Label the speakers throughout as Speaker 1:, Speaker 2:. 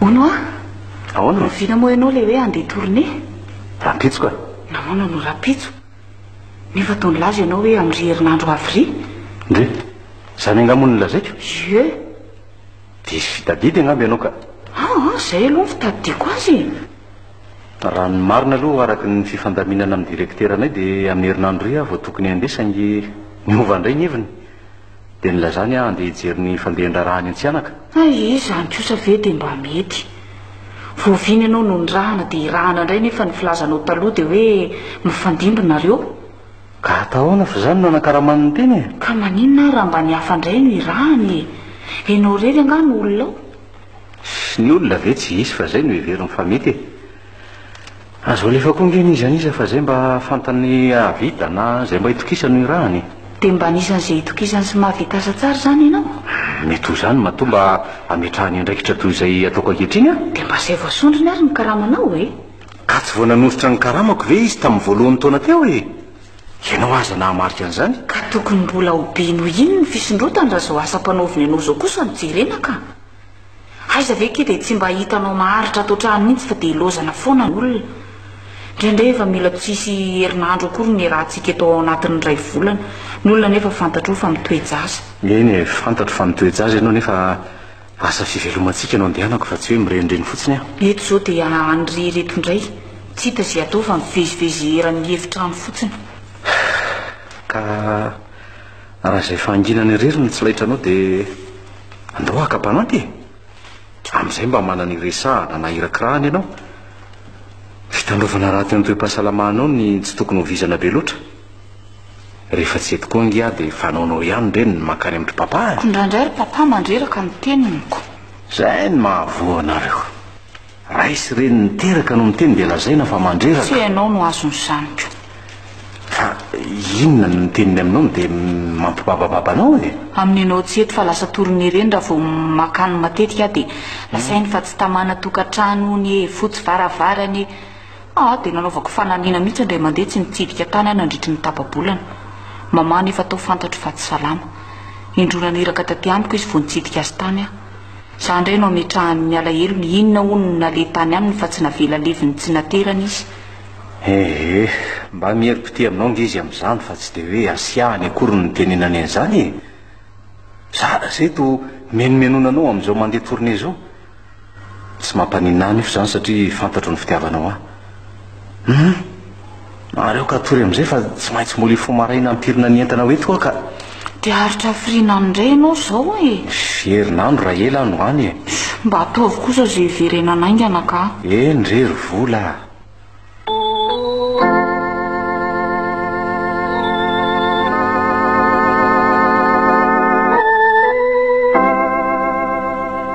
Speaker 1: Ono a! Ahoana? Oviana moa ianao ilay hoe handeha tournée? Rahampitso ka.
Speaker 2: Nahoana no rahampitso?
Speaker 1: Nefa toa nilaza ianao hoe amin'ry herinandro avril? Ndry!
Speaker 2: Izany angaha moa no nolazaiko? Yeux! Diso fitadidy angamba ianao ka. Ah ah, izay aloha
Speaker 1: no fitadidiako azy e!
Speaker 2: Raha ny marina aloha araka ny fifandaminana amin'ny direkiteranay dia amin'ny herinandro iry aho vao tokony handeha saingy niova indray ny heviny. Dia nilazany aho handeha hijery ny fandehan-draharaha any Antsihanaka. Hay ee, izany kosa
Speaker 1: ve dia mba mety? Vao vy ny anao no nirahana dia hirahana indray nefa ny filazanao taloha dia hoe mifandimby nareo. Ka
Speaker 2: atahoana fa izany no anakaramany ny tena e! Ka maninona ary raha
Speaker 1: mba ny hafa indray no hirahany e? Ianao irery angaha no olona ao? Sy ny
Speaker 2: olona ve tsy hisy fa izay no heveriny fa mety e! Azo alefa koa nge ny iza n'iza fa zay mba fantany hahavita na zay mba itokisany ny rahany e. Dia mba anisan'ny izay
Speaker 1: itokisany sy mahavita asa tsara izany ianao? Mety ho izany
Speaker 2: matoa mba hametrahany andraikitra toy izay ataoko ankehitriny aho. Dia mba izay vao sondriny
Speaker 1: ary ny karamanao e! Ka tsy vao nanosotra
Speaker 2: ny karamako ve izy tamin'ny voalohan'ny taona teo e? Ianao aza nahamarika an'izany. Ka tokony mbola ho
Speaker 1: be noho iny ny fisondrotany raha izao asa ampanaoviny anao izao kosa no jerena ka! Aiza ve ki dia tsy mba hitanao maharitra ato an-trano mihitsy fa dia ilaozana foana ny olona. Indraindray efa mila tsy hisy herinandro akory ny iarahantsika eto ao anatin'ny iray volana. Ny olona anefa fantatrao fa mitoe-jaza. Eny e, fantatro
Speaker 2: fa mitoe-jaza ianao nefa asa fivelomantsika no andehanako fa tsy hoe mirenireny fotsiny aho. Eto izao dia
Speaker 1: anirery eto indray. Tsy hita izay atao fa mivezivezy eran'ny efitrano fotsiny.
Speaker 2: Ka. Raha izay fahanginana irery no tsy laitranao dia andao haka mpanampy e! Amin'izay mba manana iresahana na irakirahana ianao. Fitandrovana ratsy ny toe-pahasalamanao ny tsy tokony ho vizana be loatra. Rehefa tsy eto koa ange aho dia fanaonao ihany re ny mankany amin-dry Papa e! Koa indraindray ry Papa
Speaker 1: mandreraka ny teniny koa. Izay no
Speaker 2: mahavoa anareo. Ray sy reny niteraka no miteny dia lazaina fa mandreraka. Tsy ianao no azon'ny
Speaker 1: zaniko. Fa
Speaker 2: inona no niteniny aminao no dia mampibabababa anao e? Aminy ianao tsy eto fa
Speaker 1: lasa torin'ny ireny raha vao makany matetika aho dia lazainy fa tsy tamana tokantrano hono e, fotsy varavarana e. Ah dia nanaovako fanamiana mihitsy indray mandeha tsy mitsidika tany aho nandritry ny tapa-bolana. Mama anefa tao fantatro fa tsy salama. Indroa naniraka taty amiko izy vao nitsidika azy tany aho. Za ndray no ametrahany ny alahelony inona hono no nale tany aminy fa tsy navela levony tsy naterany izy. Ehe, mba
Speaker 2: miherim-pitia aminao nge izy amin'izany fa tsy dia hoe asiahany akory no nitenenany an'izany e! Za zay to menomenona anao amin'izao mandeha tournée zao. Tsy mampaninona ahy anefa izany satria fantatro ny fitiavanao ahy. Hum. Mahareo ka tory amin'izay fa tsy maintsy molly fo maraina hampirina ny entana ho eto aho ka. Te haharitra
Speaker 1: hafiriana any indray ianao izao e! Fy herinandro raha
Speaker 2: ela aho no any e! Mba ataovy kosa
Speaker 1: izay hiverenana haingana ka! Eny re ry vola
Speaker 2: a!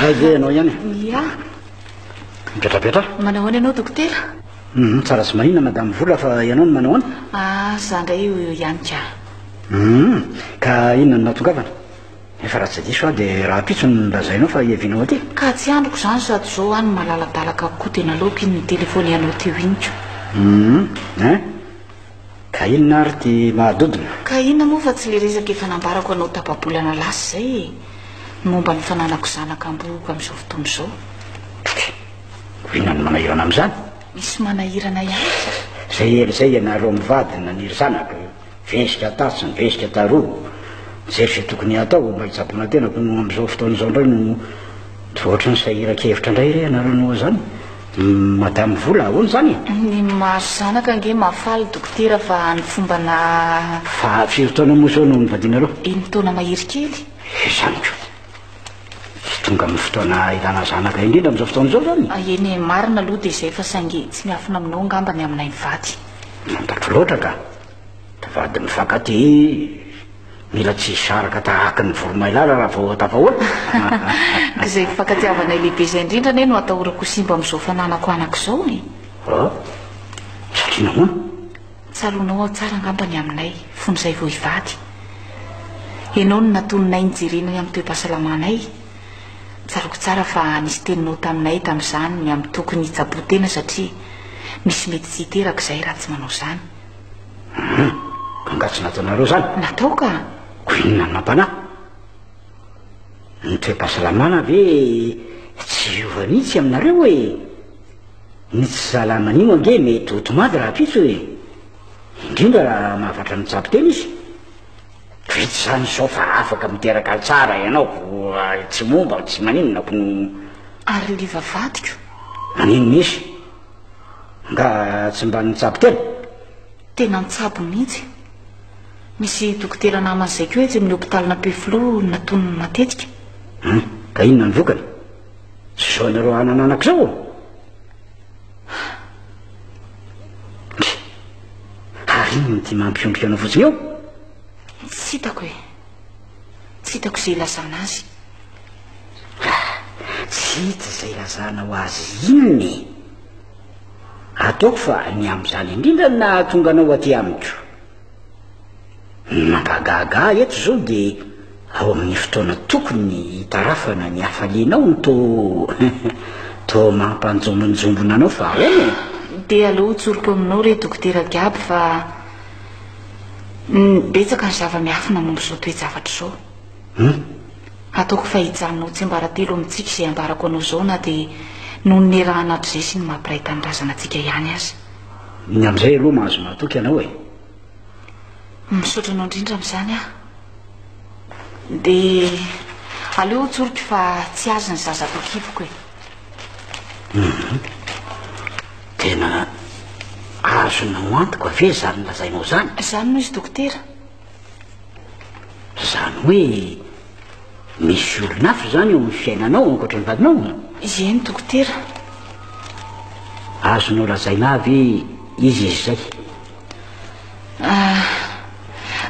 Speaker 2: Hay ve ianao ihany? Ia. Mipetrapetra. Manao ahoana ianao
Speaker 1: dokotera? Mhm, tsara sy
Speaker 2: mahina madame Vola fa ianao no manao ahoana? Ah, za ndray io io ihany
Speaker 1: ka. Mhm,
Speaker 2: ka inona no nahatongavana? Efa raha tsy diso aho dia raha pitsy no nolazainao fa hiavianao aty. Ka tsy andriko izany
Speaker 1: sady izao any malaladalaka koa dia nalaoko iny nitelefonianao teo iny ko. Mhm, hein? Ka
Speaker 3: inona ary ty mahadodona? Ka inona moa fa tsy
Speaker 1: le resaka efa nambarako anao tapa-bolana lasa izay e! Ny momba ny fananako zanaka ambohoka amin'izao fotoana izao. Tchou! Ko inona
Speaker 3: no manahirana amin'izany? Misy manahirana
Speaker 1: ihany aza. Izay ela izay
Speaker 3: ianareo mivady no naniry zanaka, vesika tatsy ny vesika taroa, nijery izay tokony hatao mba hitsaboana tena, koa amin'izao fotoana izao indray no, toa ohatran'ny sahiran-kevitra indray re ianareo noho izany? Madame vola ahoana izany e? Ny mahazo
Speaker 1: zanaka ange mahafaly dokotera fa ny fomba na. Fa firy taona
Speaker 3: moa izao no nivadianareo? Eniny taona mahery
Speaker 1: kely. Izany ko.
Speaker 3: Tonga amin'ny fotoana ilana zanaka indrindra amin'izao fotoana izao izany. Eny e, marina aloha dia
Speaker 1: izay fa saingy tsy miafina aminao angamba ny aminay mivady. Fantatro loatra
Speaker 3: ka. Mpivady mifankatia mila tsy hisaraka tahaky ny voromailala raha vao tafahota.
Speaker 1: Izay fifankatiavanay lehibe izay indrindra anie no atahorako ho simba amin'izao fananako anaka izao e! Oh,
Speaker 3: satria nahoana? Tsaroanao
Speaker 1: aho tsara angamba ny aminay fony izay vao hivady. Ianao no natoninay nijerena ny amin'ny toe-pahasalamanay. Tsaroako tsara fa nisy teninao taminay tamin'izany ny amin'ny tokony hitsaboan-tena satria misy mety tsy hiteraka izahay raha tsy manao izany. Hum,
Speaker 3: ka nga tsy nataonareo zany? Natao ka.
Speaker 1: Ko inona no
Speaker 3: nampanahy? Ny toe-pahasalamana ve tsy hiova mihitsy aminareo e? Ny tsy salaman'io ange mety ho tomady rahampitso e. Indrindra raha mahavatra mitsabo tena izy. Vita izany izao fa afaka miteraka ahy tsara ianao ko ary tsy momba tsy maninona ko no Ary le
Speaker 1: vavadiko? Maninona
Speaker 3: izy? Nga tsy mba nitsabo tena? Tena
Speaker 1: nitsabo mihitsy. Misy dokotera namany izay koa etsy amin'ny hopitalin'ny Ampefiloha natonony matetika. Hum, ka
Speaker 3: inona ny vokany? Tsy izao ianareo hanana anaka izao ô? Ndry, ary inona ity mampiondrika anao fotsiny eo? Tsy
Speaker 1: hitako e. Tsy hitako izay ilazana azy.
Speaker 3: Tsy hita izay ilazana ho azy inona e! Ataoko fa ny amin'izany indrindra no nahatonga anao aty amiko. Ny mampahagaga ahy eto izao dia ao amin'ny fotoana tokony hitarafana ny hafalianao no toa toa mampanjombonjombona anao fa ahoana e? Dia aleo ho
Speaker 1: tsoriko aminao re dokotera Gaby fa betsaka ny zava-miafina momba izao toe-javatra izao. Hum. Ataoko fa hijanona ho tsiambaratelo amintsika izay ambarako anao izao na dia noho ny nirahan'adr'izay sy ny maha mpiray tanindrazana antsika ihany aza. Ny amin'izay
Speaker 3: aloha mahazo mahatoky ianao e!
Speaker 1: Misaotra anao indrindra amin'izany aho. Dia aleo ho tsoriko fa tsy azy ny zaza ato an-kiboko e! Hum.
Speaker 3: Tena azonao antoka ve izany lazainao izany? Izany no izy dokotera. Zany hoe misy olona hafa zany eo amin'ny fiainanao ankoatra ny vadinao? Eny dokotera. Azonao lazaina avy izy izy zay? Ah,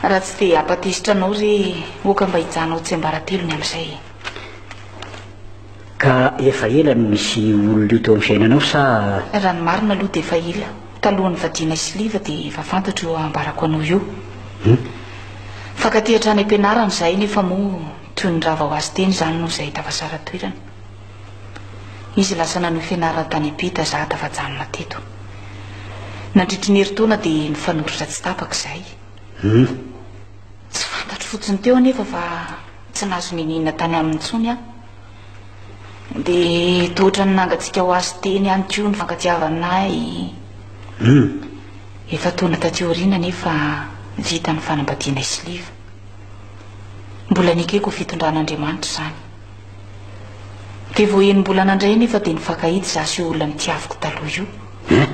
Speaker 1: raha tsy dia hampatezitra anao re, oka mba hijanao tsiambaratelony amin'izay.
Speaker 3: Ka efa ela no nisy olona io teo amin'ny fiainanao sa? Raha ny marina
Speaker 1: aloha dia efa ela. Talohan'ny vadianay sy Liva dia efa fantatro io ambarako anao io. Hum. Nifankatia hatrany am-pianarana izahay nefa moa toy ny rava ho azy teny izany noho izay tafasara toerana. Izy lasa nanohy fianarana tany am-pita, izaho tafajanona teto. Nandritry ny herintaona dia nifanoratra tsy tapaka izahay. Hum. Tsy fantatro fotsiny teo anefa fa tsy nahazo niniana tany aminy intsony aho. Dia toa ohatran'ny nangatsiaka ho azy teny ihany koa ny fankatiavanay. Hmm. Efa tona taty aoriana anefa vita ny fanambadianay sy Liva. Mbola nekeko ho fitondran'Andriamanitra izany. Dia vao enim-bolana indray anefa dia nifankahita izaho sy io olona nitiaviko taloha io. Hmm.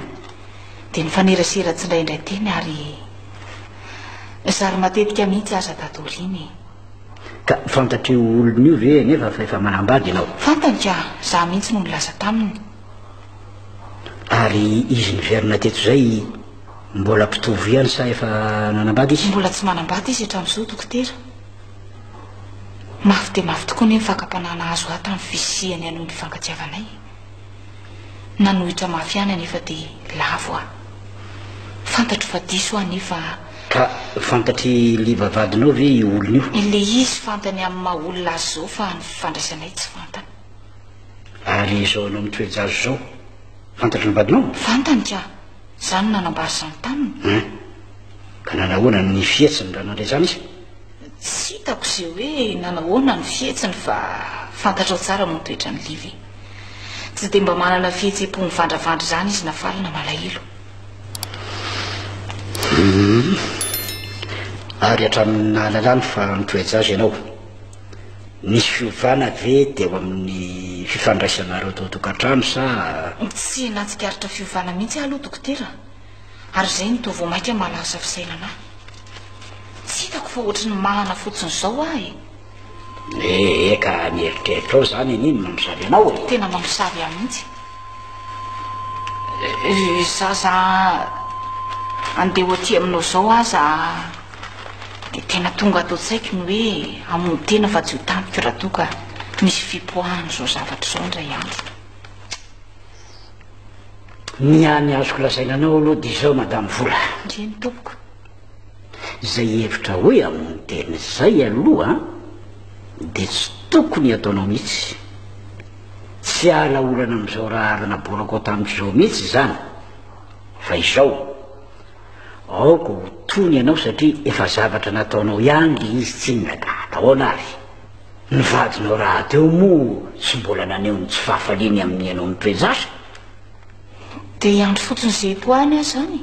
Speaker 1: Dia nifanerasera tsindraindray teny ary Zary matetika mihitsy aza tato aoriana e. Ka
Speaker 3: fantatr'io olona io ve nefa fa efa manambady ianao? Fantany ka, za
Speaker 1: mihitsy no nilaza taminy. Ary
Speaker 3: izy niverina teto izay mbola mpitovo ihany sa efa nanambady izy? Mbola tsy manambady izy
Speaker 1: hatramin'izao, dokotera. Mafy dia mafy tokoa anie ny fakam-panahy nahazo ahy tamin'ny fisian'ny anon'ny fifankatiavanay. nanohitra mafy ihany anefa dia lavo aho. Fantatro fa diso aho anefa. Ka
Speaker 3: fantatr'i Liva vadinao ve io olona io? Ilay izy fantany
Speaker 1: amin'ny maha olona azy izao fa ny fifandraisanay tsy fantany.
Speaker 3: Ary izao anao mitoe-jazo izao, fantatry ny
Speaker 1: vadinao?
Speaker 3: Fantany
Speaker 1: ka, izaho
Speaker 3: no nanambara
Speaker 1: izany taminy. Hein? Ka
Speaker 3: nanahoana ny fihetsiny raha nandre izany izy? Tsy hitako
Speaker 1: izay hoe nanahoana ny fihetsiny fa fantatrao tsara moa ny toetran'i Liva e. Tsy dia mba manana fihetseham-po mivandravandra izany izy na faly na malahelo.
Speaker 3: Ary hatramin'ny nahalalany fa mitoe-jaza ianao, nisy fiovana ve teo amin'ny fifandraisanareo tao an-tokantrano sa? Tsy nahatsikaritra
Speaker 1: fiovana mihitsy aho aloha dokotera, ary izay no toa vao mainka mahalasa fisainana ahy. Tsy hitako fa ohatry ny manana fotsiny izao aho e. Eh
Speaker 3: eh ka mieritreritra ao zany an'iny mamosavy anao e. Tena mamosavy ahy mihitsy.
Speaker 1: Za za andeha ho aty aminao zao aza dia tena tonga ato an-tsaiko ny hoe hamono tena fa tsy ho tampoka raha toa ka misy fipoahana izao zavatra izao indray andro.
Speaker 3: Ny hany azoko lazaina anao aloha dia izao Madame Vola. Ndry ny tompoko. Izay hevitra hoe amin'ny teny izay aloha dia tsy tokony hataonao mihitsy. Tsy hiala olana amin'izao raharaha naborakao tamin'izao mihitsy izany. Fa izao, aoka ho tony ianao satria efa zavatra nataonao ihany ilay izy tsinona ka atahoana ary. Ny vadinao rahateo moa tsy mbola naneho ny tsy fahafaliany amin'ny ianao nitoe-jasa.
Speaker 1: Dia hiandry fotsiny izay ho any aho izany e.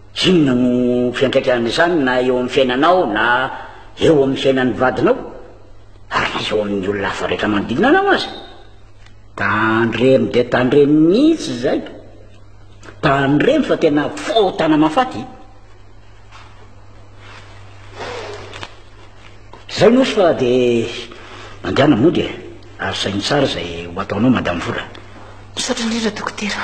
Speaker 3: Inona no fiantraikan'izany na eo amin'ny fiainanao na eo amin'ny fiainan'ny vadinao ary na eo amin'ny olona hafa rehetra manodidina anao aza? Tandremo dia tandremo mihitsy izay. Tandremo fa tena fotana mafaty. Zay nosy fa dia mandehana mody e. Ary saino tsara izay ho ataonao Madame Vola. Misaotra indrindra
Speaker 1: dokotera.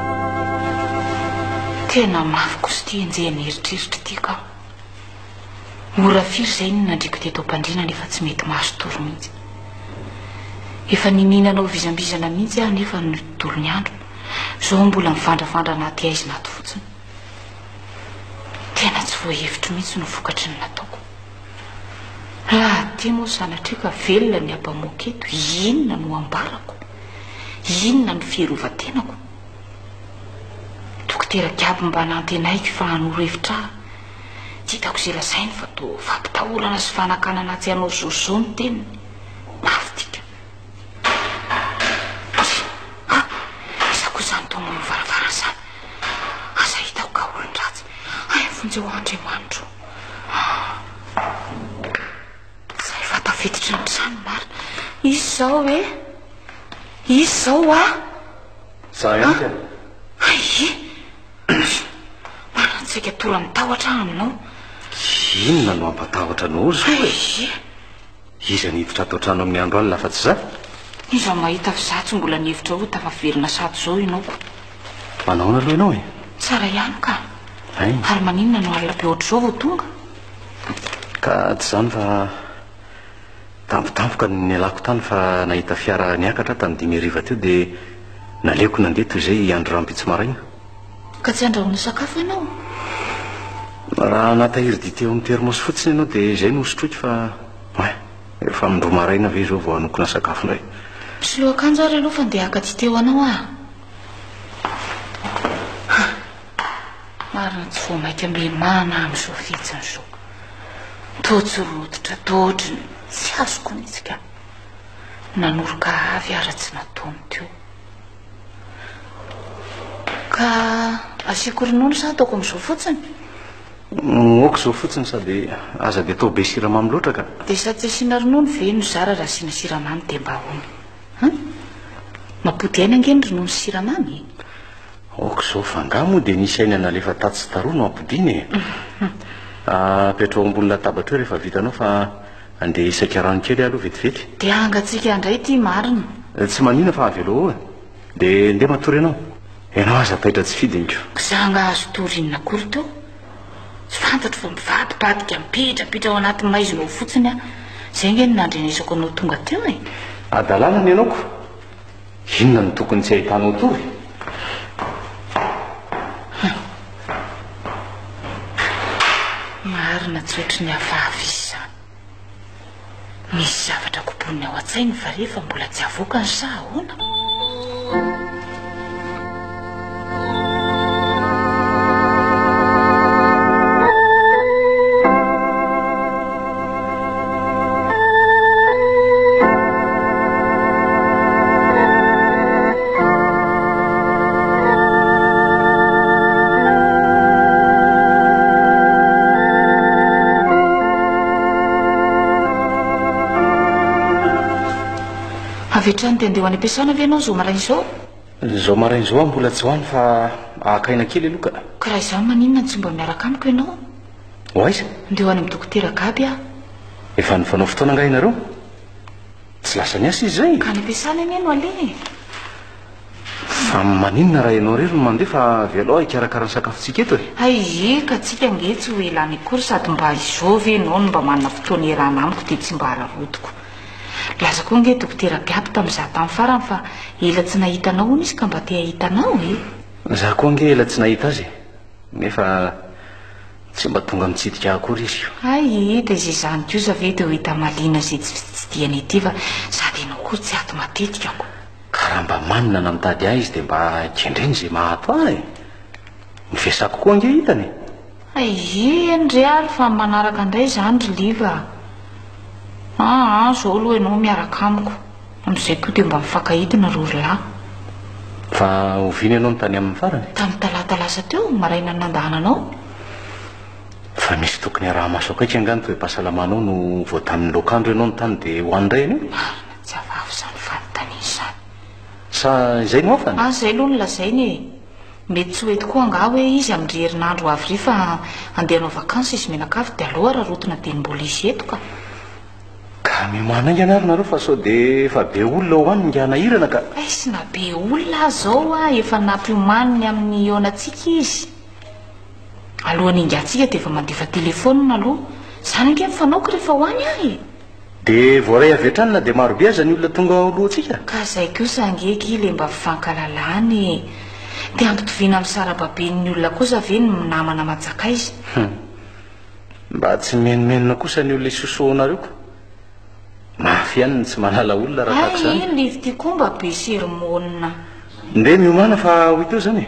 Speaker 1: Tena mafy kosa ity enjehin'ny eritreritra ity ka. Ora firy izay no nandriako teto am-pandriana nefa tsy mety mahazo tory mihitsy. Efa niniana hanao vizambizana mihitsy aho nefa ny dolon'ny andro, izao aho mbola mivandravandra anaty haizina ato fotsiny. Tena tsy voahevitro mihitsy ny vokatry ny nataoko. Raha aty moa sanatriako ka velona ny abamoaka eto, inona no ambarako? Inona no fierovantenako? Dokotera Gaby mba nantenaiko fa hanoro hevitra aho. Tsy hitako izay lazainy fa toa fampitahorana sy fanakanana tsy hanao zozo ny teniny. Mafy tika. Ah, iza koa izany toa manao varavara izany? Asa hitako ka olon-dratsy. Hay vonjeo Andriamanitro. Zay efa tafiditra ny trano marina. Izy zao e. Izy zao a. Za
Speaker 2: ihany ka. Aie.
Speaker 1: Marina tsy tora mitahotra aminao. Inona
Speaker 2: no ampatahotra anao zao e? Iza no hiditra ato an-trano amin'ny andro alina afa-tsy izaho? Iza no mahita
Speaker 1: fa izaho tsy mbola nihevitra hoe tafa velona sahady izao ianao koa? Manahoana
Speaker 2: aloha ianao e? Tsara ihany ka!
Speaker 1: Hay! Ary
Speaker 2: maninona no alina
Speaker 1: be ohatr'izao vao tonga?
Speaker 2: Ka tsy izany fa tampotampoka no nialako tany fa nahita fiara niakatra aho tamin'ny dimy hariva teo dia naleoko nandeha toy izay hiandry rahampitso maraina. Ka tsy
Speaker 1: handrahoana sakafo ianao?
Speaker 2: Raha natahiry dite ao amin'ny thermos fotsiny ianao dia izay no hosotroiko fa ouais, efa amin-droa maraina ve izao vao hanokona sakafo indray? Mpisoloa akanjo
Speaker 1: ary aloha fa ndeha haka dite ho anao aho. Ha! Marina tsy vao mainka milamina aho amin'izao fihetsiny izao. Toa tsy rototra toa ohatry ny tsy azoko mihitsy ka. Nanoroka avy ara-tsy nataony teo. Ka asiako ronono sa ataoko amin'izao fotsiny?
Speaker 2: Moak izao fotsiny sady aza dia atao be siramamy loatra
Speaker 1: ka. Dia sady tsy
Speaker 2: asiana
Speaker 1: ronono ve
Speaker 2: no
Speaker 1: zara raha
Speaker 2: asiana
Speaker 1: siramamy
Speaker 2: dia
Speaker 1: mba ahoana? Hum? Mampody aina ange ny ronono sy siramamy e. Ok
Speaker 2: izao fa angaha moa dia nisy aina nalefa tatsy sy taroa no ampodiana e. Apetraho ambony latabatra eo rehefa vitanao fa Andeha hisaika rano kely aho aloha vetivety. Dia hangatsiaka indray
Speaker 1: ity marina. Tsy manina fa
Speaker 2: avela eo e. Dia ndeha matory anao. Ianao aza taitra tsy fidiniko. Za nga azo tory
Speaker 1: inona akory teo? Tsy fantatro fa mivadibadika mipetrapitra ao anaty maizina ao fotsiny aho. Zay nge no nandrenesako anao tonga teo e. Hadalana ny anaoko.
Speaker 2: Inona no tokony tsy ahitanao tory?
Speaker 1: Marina tsy ohatry ny hafahafa izy izany. Misy zavatra kobonin'ny ao an-tsainy fa re fa mbola tsy avoaka ny saha ahoana? Avy hatrany dia andeha ho any am-piasana ve ianao izao maraina izao? Zao
Speaker 2: maraina zao aho mbola tsy ho any fa haka aina kely aloha ka. Ka raha izany maninona
Speaker 1: no tsy mba miaraka amiko ianao? Ho aiza?
Speaker 2: Ndeha ho any amin'ny
Speaker 1: dokotera Gaby aho. Efa nifanao
Speaker 2: fotoana angaha ianareo? Tsy lasa niasa izy izay? Ka any am-piasana anie no
Speaker 1: aleha e!
Speaker 2: Fa maninona raha ianao irery no mandeha fa avy alao hikarakara ny sakafontsika eto e? Hay ee ka tsika
Speaker 1: ange tsy ho ela any akory sady mba izao ve ianao no mba manana fotoana iarahana amiko dia tsy mba hararaotiko. Laza koa ange dokotera Gaby tamin'izaho tamin'ny farany fa ela tsy nahita anao hono izy ka mba te hahita anao e! Izaho koa ange ela tsy
Speaker 2: nahita azy e! Nefa tsy mba tonga mitsidika ahy akory izy. Hay e, dia izay
Speaker 1: izany kosa ve dia ho hita mahaliana izay tsy fitsidihana ity fa sady ianao koa tsy ato matetika ko. Ka raha mba manina
Speaker 2: na mitady ahy izy dia mba kendreny izay maha ato ahy e! Ny vesako koa ange hitany e! Aihihiny
Speaker 1: ry ary fa ny manaraka indray izany ry Liva a! Aa izao aloha ianao miaraka amiko, amin'izay koa dia mba mifankahita nareo ry lahy.
Speaker 2: Fa oviana ianao no tany amin'ny farany? Tamin'ny talata lasa
Speaker 1: teo, marainan'ny nandahananao.
Speaker 2: Fa misy tokony araha-maso akaiky angaha ny toe-pahasalamanao no vao tamin'ny loakandro ianao no tany dia ho any indray ianao? Marina, tsy avava
Speaker 1: izany fanontaniana izany. Sa
Speaker 2: izay no hafany? Aza izay aloha no lazaina e!
Speaker 1: Mety tsy ho eto koa angaha hoe izy amin-dry herinandro ho avy ry fa handeha hanao vakansy izy mianakavy dia aleo hararaotina dia ny mbola hisy eto ka. Ka
Speaker 2: miomàna aingana ary nareo fa sao dia efa be olona ho any ny nganahirana ka. Aiss na be
Speaker 1: olona aza izao a efa nampiomaniny amin'ny hihaonantsika izy. Alohan'ny hingantsika dia efa mandefa telefonina aloha. Izany ange ny fanaoko rehefa ho any aho e. De voaray
Speaker 2: avy hatrany na dia marobe aza ny olona tonga ao alohantsika? Ka zay kosa
Speaker 1: ange ki le mba fankalalana e! De ampitoviana am sarababen'ny olona kosa ve ny namana aman-tsakaiza? Hum!
Speaker 2: Mba tsy mimenomenona kosa ny olona isosohanareo ko! Mafy ihany ny tsy mahalala olona raha tahaka izany. Hay iny live ty ko mba be
Speaker 1: sermonina. Ndeha
Speaker 2: miomana fa ho ito zany e!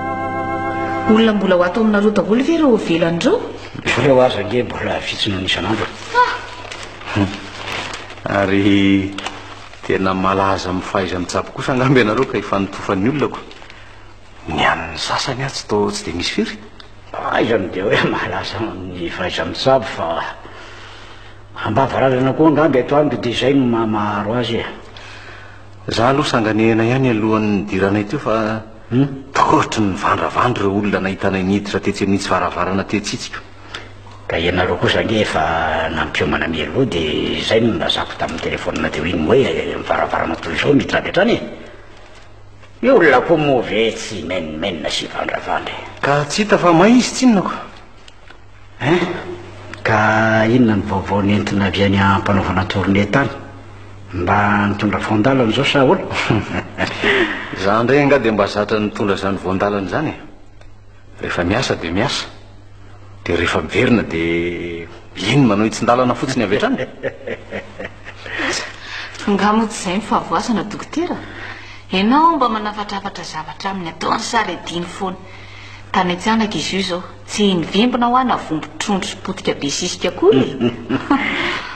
Speaker 1: Olona mbola ho ato aminareo daholo ve ireo velany ireo? Ireo aza
Speaker 3: ange mbola vitsy noho ny isan'andro.
Speaker 2: Ary tena malaza amin'ny fahaiza-mitsabo kosa angamba ianareo ka ifanitofan'ny olona ko. Ny an'ny sasany atsy toa tsy dia misy firy. Aiza no dia
Speaker 3: hoe malaza amin'ny fahaiza-mitsabo fa am-bavaranana koa angamba eto amiko dia izay no maha maharo azy e. Za
Speaker 2: aloha sanganehana ihany alohan'ny nidiranay teo fa Humm taotry ny nivandravandra ireo olona nahitanay niditra tetsy amin'itsy varavarana tetsy itsy ka. Ka
Speaker 3: ianareo kosa ange efa nampiomana mialoha dia izay no nilazako tamin'ny telephone teo iny hoe ny varavarana toy izao miditra avy hatrany e! Ny olona koa moa ve tsy menomenona sy hivandravandra e! Ka tsy hita fa
Speaker 2: may izy tsinona ko! Hein?
Speaker 3: Ka inona ny vaovao nentina avy any ampanaovana tournée tany? Mba nitondra voandalana zao sa ahoana?
Speaker 2: Za ndray nga de mba zatra nitondra zany voandalana zany e! Rehefa miasa de miasa, de rehefa miverina de iny manao hitsin-dalana fotsiny avy hatrany!
Speaker 1: Nga moa
Speaker 2: tsy zay
Speaker 1: ny fahavoazana dokotera? Enao mba manafatrafatra zavatra aminy ataony sa rediny foana? Tany an-tsanaka izy io zao. Tsy nivimbina hoa navombo trondro potika be sisika akory e!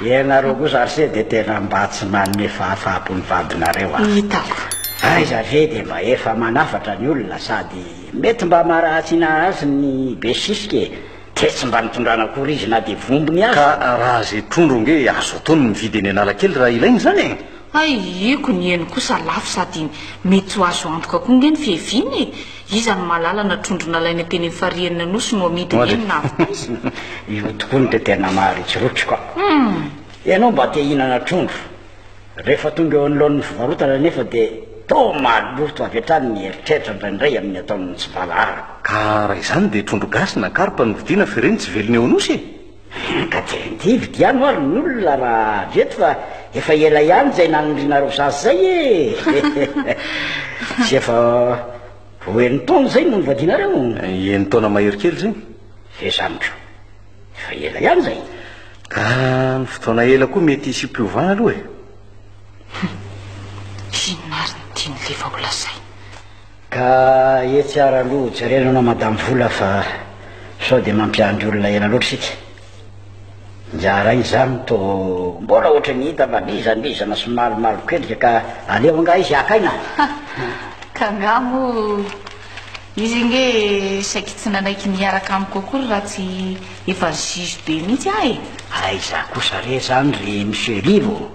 Speaker 3: Ianareo kosa ary se dia tena mba tsy manome fahafahampo ny vadinareo a! Hitako.
Speaker 1: Aiza ve
Speaker 3: dia mba efa manafatra ny olona sady mety mba maharatsiana azy ny be sisika e! Dia tsy mba nitondrana akory izy na dia vombony aza! Ka raha ze trondro
Speaker 2: nge azo atao ny mividy eny Analakely raha ilaina izany e! Hay eko
Speaker 1: ny eny kosa lafo sady mety ho azo antoka koa nge ny fiheviana e! Iza no mahalala na trondro nalaina teny amin'ny farihin'ny Anosy no amidy eny na avidiana? Io tokoa
Speaker 3: no tena maharikoriko ka! Hum! Ianao mba te hihinana trondro, rehefa tonga eo anoloan'ny fivarotana anefa dia toa maloto avy hatrany ny eritreritra indraindray amin'ny ataon'ny tsy valahara. Ka raha izany
Speaker 2: dia trondro gasy na karpa no vidiana fa ireny tsy velona eo Anosy e! Ka tsy
Speaker 3: vidividy ihany ho'a ry ny olona raha avy eto fa efa ela ihany izay nanindrianareo zaza izay e! Tsy efa ho enin-taona izay no nivadianareo? Enin-taona mahery
Speaker 2: kely izay. F'efa amiko,
Speaker 3: efa ela ihany izay. Ka
Speaker 2: ny fotoana ela koa mety hisy fiovana aloha e!
Speaker 1: Inona ary ny tian'i Leva ho lazaina? Ka
Speaker 3: etsy ara aloha jerena anao madame vola fa sao dia mampiandry olona ela loatra isika. Ingahy Ray izany toa mbola ohatry ny hita mba lizalizana sy malomaloka endrika ka aleo angaha izy hakaina a! Ka
Speaker 1: angaha moa izy ange saiky tsy nanaiky ny hiaraka amiko akory raha tsy efa juge be mihitsy aho e! Aiza kosa
Speaker 3: re izany ry Monsieur Lilo?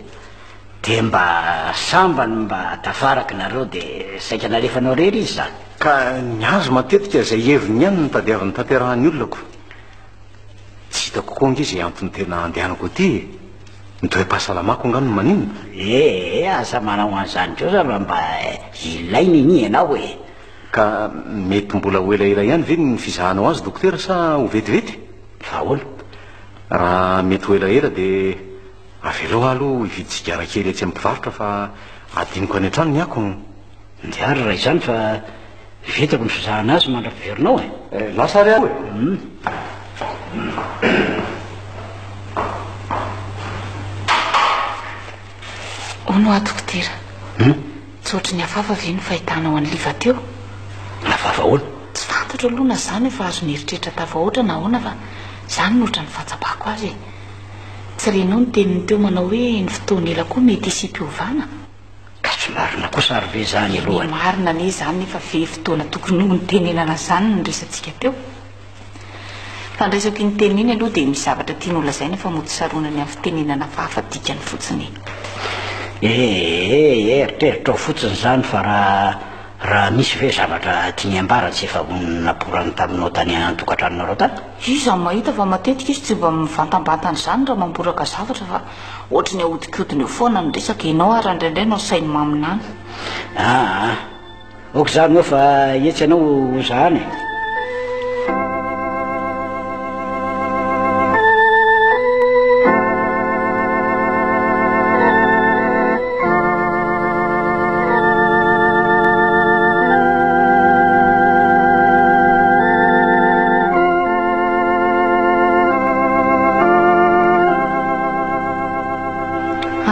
Speaker 3: Dia mba sambany mba tafaraka nareo dia saika nalefanao rery izy zany. Ka ny azy
Speaker 2: matetika izay heviny ihany no tadiaviny tanterahan'ny olona ko. Tsy hitako koa ange izay antony tena andehanako aty e. Ny toe-pahasalamako angaha no maninona? Ee, aza manao
Speaker 3: an'izany kosa raha mba ilainy anie ianao e. Ka
Speaker 2: mety mbola ho elaela ihany ve ny fizahanao azy dokotera sa ho vetivety? Fa ahoana? Raha mety ho elaela dia. Avelao aho aloha hividy sigara kely etsy amin'ny mpivarotra fa hadinoko any an-trano ny akony. Ndeha ary
Speaker 3: raha izany fa vitako ny fizahana azy mandra-piverinao e! Eh, lasa ary aho e!
Speaker 1: Hono hoa dokotera, tsy ohatry ny hafahafa ve ny fahitanao an'i Liva teo? Hafahafa
Speaker 3: ahoana? Tsy fantatro aloha na
Speaker 1: izaho no efa azo nieritreritra tafahoatra na ahoana fa izany no ohatran'ny fahatsapako azy e! Tsy renao ny teniny teo manao hoe ny fotoana ela koa mety hisiam-piovana? Ka tsy
Speaker 3: marina kosa ary ve izany aloha? Eny marina anie izany nefa
Speaker 1: ve fotoana tokony hontenenana izany no resatsika teo? Fandraisako iny teniny iny aloha dia misy zavatra tiany holazaina fa mody saronany amin'ny fitenenana hafahafa dikany fotsiny e! Ee,
Speaker 3: eritreritrao fotsiny izany fa raha raha misy ve zavatra tiany ambara tsy efa naporany taminao tany an-tokantranonareo tany? Iza no mahita fa
Speaker 1: matetika izy tsy mba mivantambatana izany raha mamboraka zavatra fa ohatry ny ahodikodiny eo foana ny resaka, ianao ary indraindray no asainy maminany. Aa,
Speaker 3: ok izany moa fa etsy ianao ho zahana e.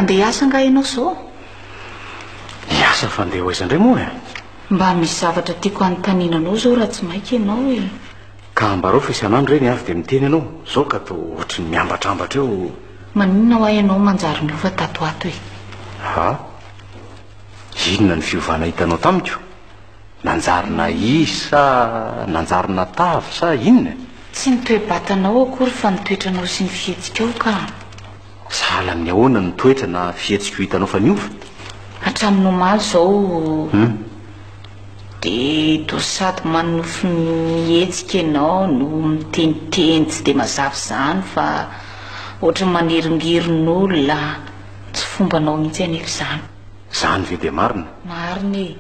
Speaker 1: Andeha hiasa angaha ianao izao? Hiasa
Speaker 2: fa andeha ho aiza indray moa e? Mba misy
Speaker 1: zavatra tiako hanontaniana anao izao raha tsy maika ianao e. Ka ambarao
Speaker 2: fa isan'andro ireny avy dia miteny ianao. Izao ka toa ohatry ny miambatrambatra eo. Maninona hoa ianao
Speaker 1: manjary niova tato ho ato e? Ha?
Speaker 2: Inona ny fiovana hitanao tamiko? Nanjary nahisy sa nanjary natavy sa inona e? Tsy ny toe-batanao
Speaker 1: akory fa ny toetranao sy ny fihetsikao ka. Sahala
Speaker 2: amin'ny ahoana ny toetra na fihetsiko hitanao fa niova? Hatramin'ny
Speaker 1: omaly izao. Hum. Dia toa sady manonofy mihetsika ianao no miteniteny tsy dia mazava izany fa ohatran'ny maneringeron'olona, tsy fombanao mihitsy anefa izany. Izany ve dia
Speaker 2: marina? Marina e!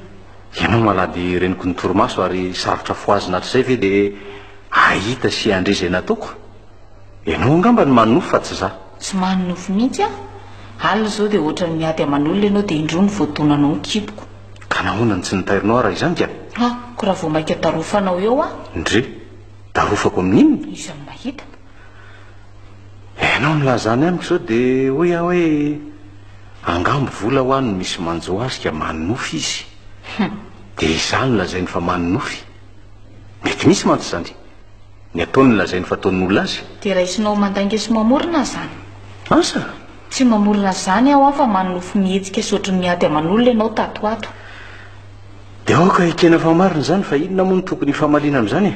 Speaker 1: Ianao
Speaker 2: malady reniko ny torimaso ary sarotra fohazina hatrizay ve dia hahita sy handre izay nataoko? Ianao angamba no manonofy fa tsy za. Tsy manonofy mihitsy
Speaker 1: aho. Alina izao dia ohatran'ny miady aman'olona ianao dia indroa no voadonanao ny kiboko. Ka nahoana no tsy
Speaker 2: nitairinao aho raha izany ka? Ah, ko raha vao maika
Speaker 1: darofanao eo aho. Ndry,
Speaker 2: darofako amin'inona? Iza no mahita?
Speaker 1: Ianao
Speaker 2: nilaza any amiko izao dia hoy aho hoe angamba vola hoa no misy manjo azy ka manonofy izy. Dia izaho no lazainy fa manonofy. Mety misy mantsy izany. Ny ataony lazainy fa ataon'olona azy. Dia raisinao mandainga
Speaker 1: sy mamorona zany? Asa!
Speaker 2: Tsy mamorona
Speaker 1: zany aho an fa manonofy mihetsika sy ohatrin'ny miady aman'olona ianao tato ho ato.
Speaker 2: Dia aoka ekena fa marina izany fa inona moa no tokony hifamaliana amin'izany e?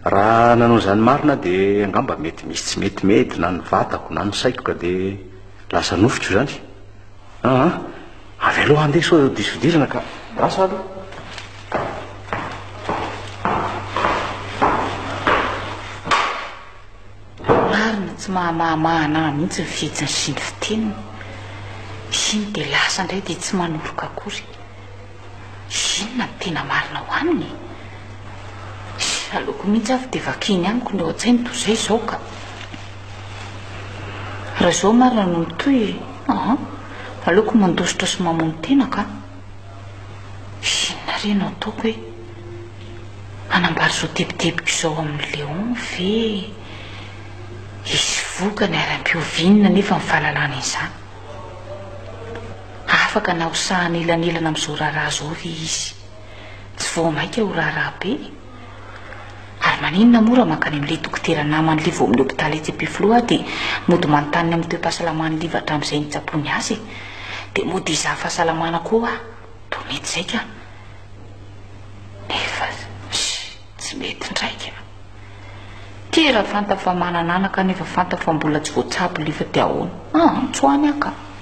Speaker 2: Raha nanao izany marina aho dia angamba mety misy tsy mety mety na ny vatako na ny saiko ka dia lasa nofiko izany. Aa. Avy aloha handeha sao diso fidirana ka rasa aloha.
Speaker 1: Marina tsy mahamahamahana ahy mihitsy ny fihetsiny sy ny fiteniny. Iny dia lasa indray dia tsy manoroka akory. Inona no tena marina ao aminy e? Aleoko mihitsy avy dia vakiny amiko ny ao an-tsainy toy izay izao ka. Raha izao marina no mitohy, aha. Aleoko mandositra sy mamono tena ka. Inona re no ataoko e? Hanambara izao tebitebiko izao amin'i Léon ve? Hisy vokany ary ampioviana anefa ny fahalalana izany. Afaka na ho sahana elanelana amin'izao raharaha izao ve izy? Tsy vao maika ho raharaha be e! Ary maninona moa raha mankany amin'ilay dokotera naman'ilay vao amin'ny hopitaly etsy Ampefiloha aho dia mody manontany ny amin'ny toe-pahasalaman'i Liva hatramin'izay nitsaboany azy e? Dia mody hizaha fahasalamana koa ho'a? Toa mety izay ka. Nefa tsy mety indray ka. Ty raha fantany fa manana anaka nefa fantany fa mbola tsy voatsabo Liva dia ahoana? Antso any aho ka.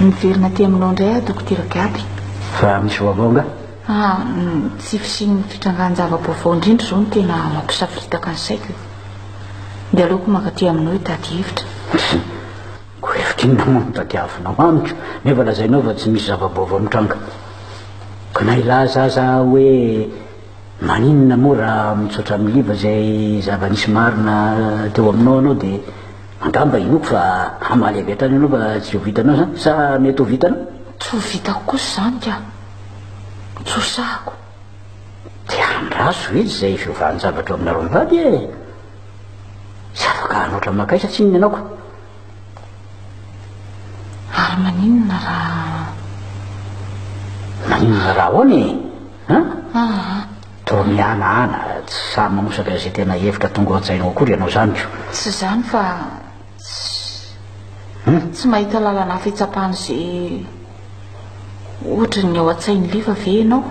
Speaker 1: Miverina aty aminao indray aho Dokotera Gaby. Fa misy vaovao
Speaker 3: nga? Ah,
Speaker 1: tsy fisian'ny fitrangan-java-baovao indrindra izao no tena mampisafiritaka ny saiko. Dia aleoko maka aty aminao hitady hevitra. Ko hevitra inona moa no tadiavinao amiko nefa lazainao fa tsy misy zava-baovao mitranga. Ka na hilaza aza aho hoe maninona moa raha mitsotra amin'ny liva izay zava-nisy marina teo aminao ianao dia Angamba hinoako fa hamaly avy hatrany ianao fa tsy ho vitanao izany, sa mety ho vitanao? Tsy ho vitako kosa izany ka! Tsy ho sahako!
Speaker 3: Dia andraso ve tsy izay fiovan-javatra ao aminareo mivady e! Tsy afaka hanoatra makaisa tsinona ianao ka!
Speaker 1: Ary maninona raha. Maninona raha ahoana e? An?
Speaker 3: Aa. Toa miala ana, tsy sahy manosaka izay tena hevitra tonga ao an-tsainao akory ianao izany ko. Tsy izany fa
Speaker 1: tsy, tsy mahita lalana hafa hitsapana izay ohatra ny ao an-tsain'i Liva ve ianao?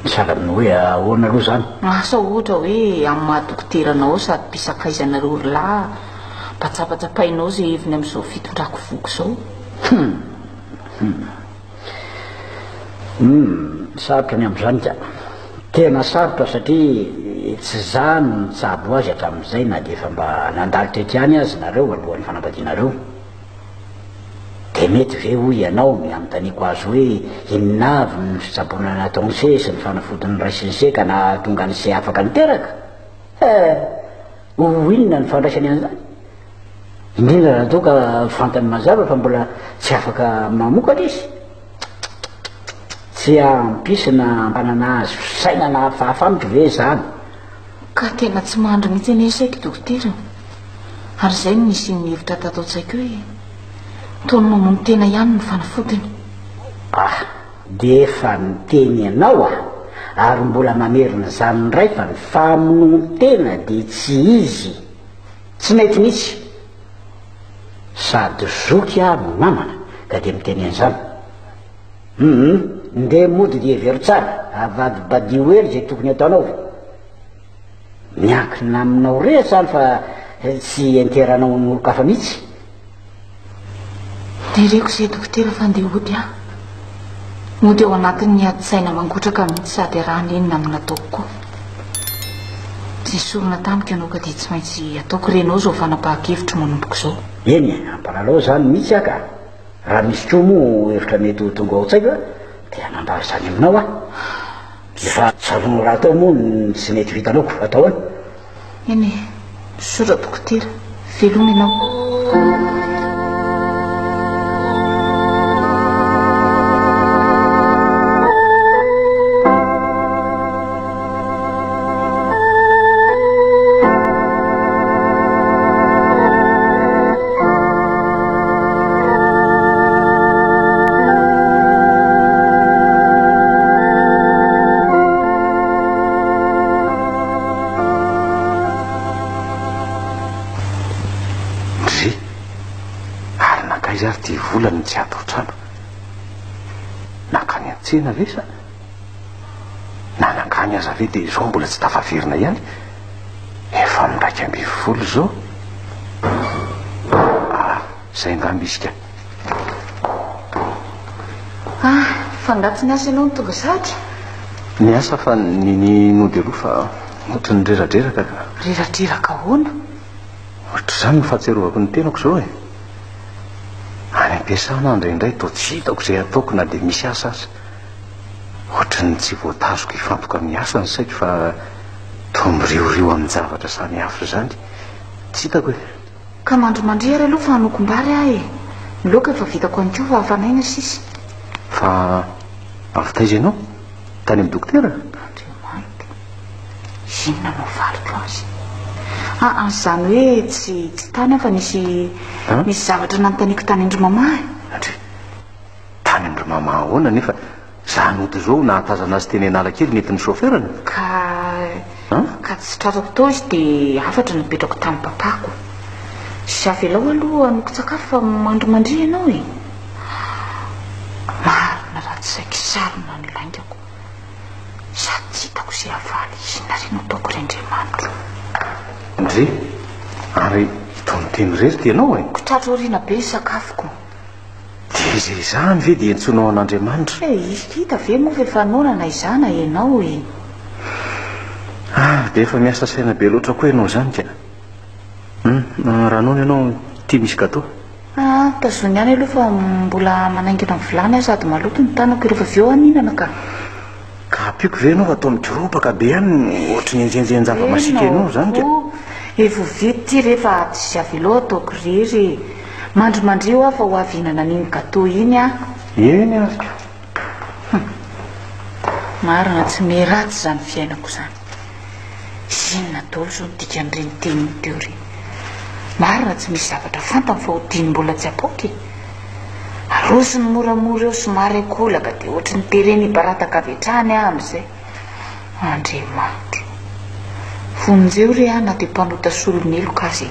Speaker 1: Sahala amin'ny
Speaker 3: hoe ahoana aloha izany? Asa ohatra hoe
Speaker 1: amin'ny maha dokoteranao aho sady mpisakaizanareo ry lahy, mba tsapatsapaianao izay heviny amin'izao fitondrako voky izao? Hum! Hum!
Speaker 3: Humm, sarotra ny amin'izany ka. Tena sarotra satria tsy izaho no nitsabo azy hatramin'izay na dia efa mba nandalo tetika any aza nareo alohan'ny fanambadianareo. Dia mety ve hoy ianao ny hanontaniako azy hoe inona avy ny fitsaboana nataon'i se sy ny fanafodiny niraisin'i se ka nahatonga an'i se afaka niteraka? He! Ho inona ny fandraisany an'izany? Indrindra raha toa ka fantany mazava fa mbola tsy afaka mamokatra izy? Tsy hampisy na hampanana azy fisainana hafahafa amiko ve izany? Ka
Speaker 1: tena tsy mandry mihitsy anie saiky dokotera ô! Ary izay no nisian'ny hevitra tato an-tsaiko hoe toa ny mamono tena ihany no fanafodiny. Ah!
Speaker 3: Dia efa niteny ianao a! ary mbola mamerina izany indray fa ny famonoan-tena dia tsy izy, tsy mety mihitsy! sady zoky aho no namana ka dia miteny an'izany! hum! ndeha mody dia hevero tsara, avadibadio hely izay tokony ataonao! miankina aminao re izany fa tsy enteranao amin'olon-kafa mihitsy!
Speaker 1: Dia reko izay dokotera fa ndeha hody aho. Mody ao anatin'ny adi-tsaina mangotraka mihitsy sady iarahany inona amin'ny nataoko koa. Izay sorona tamiko ianao ka dia tsy maintsy ataoko re ianao izao fanapahan-kevitro manomboko izao. Eny e, ampanalao
Speaker 3: izany mihitsy aho ka. Raha misy koa moa hevitra mety ho tonga ao an-tsaiko dia hanambara izany aminao aho. Efa tsaroanao rahateo moa ny tsy mety vitanao koa atao ahoana? Eny e,
Speaker 1: Soja Dokotera, veloma ianao.
Speaker 2: Ndry! Ary nankaiza ary ty vola no tsy ato an-trano? Nankany an-tsena ve sa? Na nankany aza ve dia izao mbola tsy tafaverina ihany? Efa miraika ambin'ny folo izao? Ah, izay angamba izy ka!
Speaker 1: Ah! Fa angaha tsy niasa ianao ny tonga zatra? Niasa
Speaker 2: fa ny ny nody aloha fa ohatran'ny reradreraka ka. Reradreraka ahoana?
Speaker 1: Ohatr'izany
Speaker 2: ny fahatsiarovako ny tenako izao e! Any am-piasana aho indraindray toa tsy hitako izay ataoko na dia misy asa aza. Ohatran'ny tsy voatazoko hifantoka amin'ny asa ny saiko fa toa miriorio amin-javatra samihafa izany. Tsy hitako e! Ka mandrimandry
Speaker 1: ary aloha fa hanokom-bary aho e! Ny laoka efa vitako ihany koa fa hafanaina sisa. Fa
Speaker 2: avy taiza ianao? Tany amin'ny dokotera? Andriamanitra!
Speaker 1: Inona no valiko azy? Aa izany hoe tsy tsy tany aho fa nisy nisy zavatra nanontaniako tany an-dry mama e! Andri.
Speaker 2: Tany an-dry mama ahoana nefa? Za nody zao nahatazana azy teny Analakely nentin'ny chauffeur-ny. Ka
Speaker 1: ka tsy tratrako tao izy dia hafatra no napetrako tamin'ny papako. Sy avelao aloha hanokon-tsakafo fa mandry mandria ianao e! Marina raha tsy saiky sarona ny laingako sady tsy hitako izay havaly inona re no ataoko ry Andriamanitro.
Speaker 2: Ndry! Ary itony teny irery ty ianao e! Ko tratro aoriana be ny
Speaker 1: sakafoko. Dia
Speaker 2: izay izany ve dia antsoinao an'Andriamanitra? He, izy hita ve
Speaker 1: moa fa efa noana na izaho na ianao e!
Speaker 2: Ah, dia efa miasa saina be loatra koa ianao izany ka! Hum, raha noana ianao, ity misy gateau. Ah, tazony
Speaker 1: ihany aloha fa mbola manaingina ny vilany aho sady maloto ny tanako, rehefa avy eo aho mihinana ka! Ka ampiako
Speaker 2: ve ianao atao midorobaka be any ohatry ny enjenjen-java-masiaka ianao izany ka? Efa ho vita
Speaker 1: ity rehefa aty sy avy eo ataoko irery e. Mandrimandrio aho fa ho avy hihinana an'iny gateau iny aho. Eny ary
Speaker 2: ka.
Speaker 1: Marina, tsy miratsy izany fiainako izany. Inona daholo izao ny dikan'ireny teniny teo ireny? Marina tsy misy zavatra fantany fa hodiny mbola tsy apoaka e! Arosony moramora eo somary ankolaka dia ohatry ny tereny hibarataka avy hatrany aho amin'izay. Andriamanitro! Vonjeo re aho na dia mpanota solon'heloka aza e!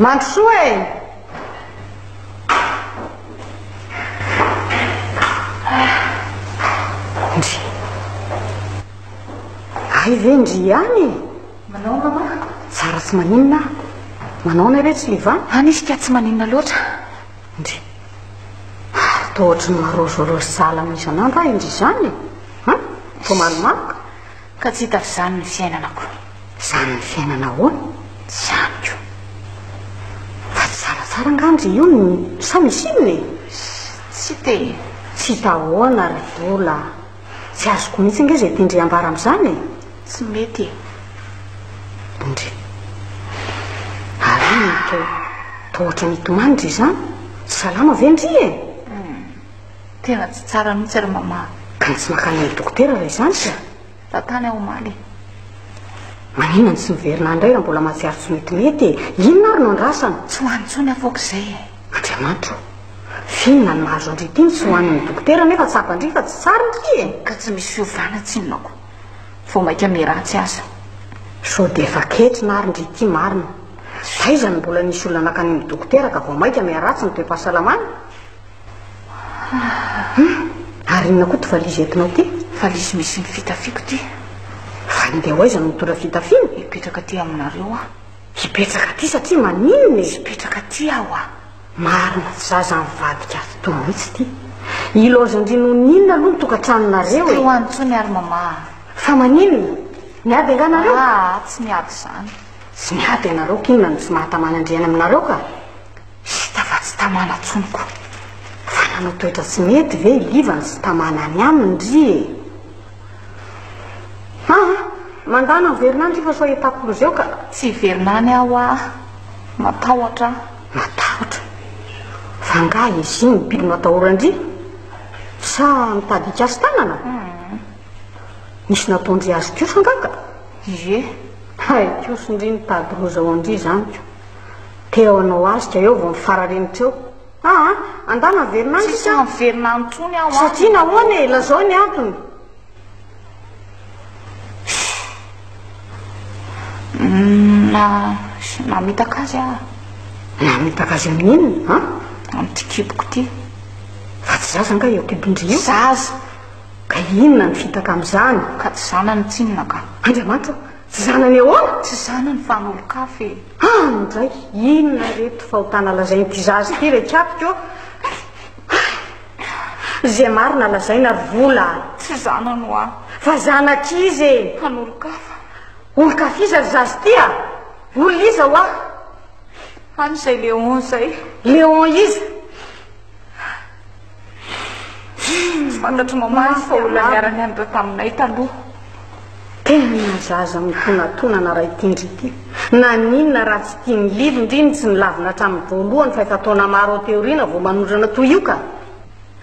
Speaker 1: Mandrosoa e! Ndry. Ay ve ndry ihany e? Manao mama? Tsara tsy maninona. Manao na ve tsy liva? Any izy ka tsy maninona loatra. Ndry. Ary toa ohatry ny marozo rozo sahala amin'ny isan'andro ahy ndry izany e. Hum? Toa malomaloka. Ka tsy hita f'izany ny fiainana ko. Zany ny fiainana ahoana? Tsy amiko. Fa tsy zaratsara angamba ze io no sa misy inona e? Tsy te. Tsy hita ahoana ry Bola a! Tsy azoko mihitsy ange ze tian-dry ambara am'zany e! Tsy mety e! Ndry. Ary inona to? Toa ohatran'ny hitomany ndry izany? Tsy salama ve ndry e? Tena tsy tsara mihitsy ry Maman. Ka tsy mankany amin'ny dokotera raha izany ka? Raha tany aho omaly e. Maninona no tsy miverina any indray raha mbola mahatsiaro tsy metimety e? Inona ary no andrasana? Tsy ho any intsony aho foako izay e. Andriamanitra o! Finina ny mahazo an-dry ity ny tsy ho any amin'ny dokotera nefa tsapan-dry fa tsy tsara ity e! Ka tsy misy fiovana tsinonako. Vao mainka miratsy aza. Sao dia efa ketrina ary ndry ity marina. Taiza no mbola nisy olona nankany amin'ny dokotera ka vao mainka miharatsy ny toe-pahasalamany?
Speaker 4: Ary inona koa ty valizy entinao ty? Valizy misy ny
Speaker 1: fitafiako ty. Fa handeha
Speaker 4: ho aiza no mitondra fitafiana? Hipetraka aty aminareo
Speaker 1: aho. Hipetraka aty
Speaker 4: satria maninona e? Hipetraka aty aho a!
Speaker 1: Marina, tsy za
Speaker 4: izany mivadika ato toa mihitsy ty. I laozin-dry noninona aloha ny tokantranonareo e? Tsy teo any intsony ary
Speaker 1: mama a! Fa
Speaker 4: maninona? Niady angaha nareo? Aa, tsy niady
Speaker 1: izany. Tsy niady
Speaker 4: ianareo k'inona no tsy maha-taman'Andriana aminareo ka! Hita fa
Speaker 1: tsy tamana tsony ko. Fa nanao
Speaker 4: toetra tsy mety ve i Liva no tsy tamana any aminy ry e? Haa! Mandana miverina any ry fa soa i Takolo zeo ka. Tsy hiverina any
Speaker 1: aho aa. Matahotra aho. Matahotra?
Speaker 4: Fa nga izy no biby matahoran-dry? Sa mitady hikasy tanana? Nisy nataon-dry azy kosa nga ka? Ie.
Speaker 1: Hay
Speaker 4: kosa ndry nitady loza ho an-dry izany ko. Teo anao azy ka eo vao mifarareny teo. Aa! Andahy naverina any sisa an! Tsisy miverina any
Speaker 1: intsony aho an! Satria nahoana e? Lazao
Speaker 4: ny antony.
Speaker 1: Umm. Namitaka azy aho. Namitaka
Speaker 4: azy amin'ny inona an? Amin'ity kiboko
Speaker 1: ity. Fa tsy
Speaker 4: zaza angaha io kibon-dry io? Zaza.
Speaker 1: Ka
Speaker 4: inona no fitaka amin'izany? Ka tsy zanany
Speaker 1: tsinona ka. Andriamanitra o! Tsy
Speaker 4: zanany ahoana? Tsy zanany fa
Speaker 1: an'olon-kafa e! Hany indray,
Speaker 4: inona ireto fahotana lazain'ity zaza ity re kiapika ô? Izay marina lazaina ry Vola a! Tsy zanany hoa!
Speaker 1: Fa zanak'iza
Speaker 4: e? An'olon-kafa.
Speaker 1: Olon-kaf'iza
Speaker 4: ry zaza ity a? Olon'iza hoa? Hany
Speaker 1: izay Léon izay. Léon iza? Tsy fantatry Maman izy fa olona niara-nianatra taminay taloha. Tena
Speaker 4: zaza mitonatona anarah ity ndry ity. Naninona raha tsy tian'i Lily ndry ny tsy nilavina hatramin'ny voalohany fa efa taona maro aty aoriana vao manondrana toy io ka?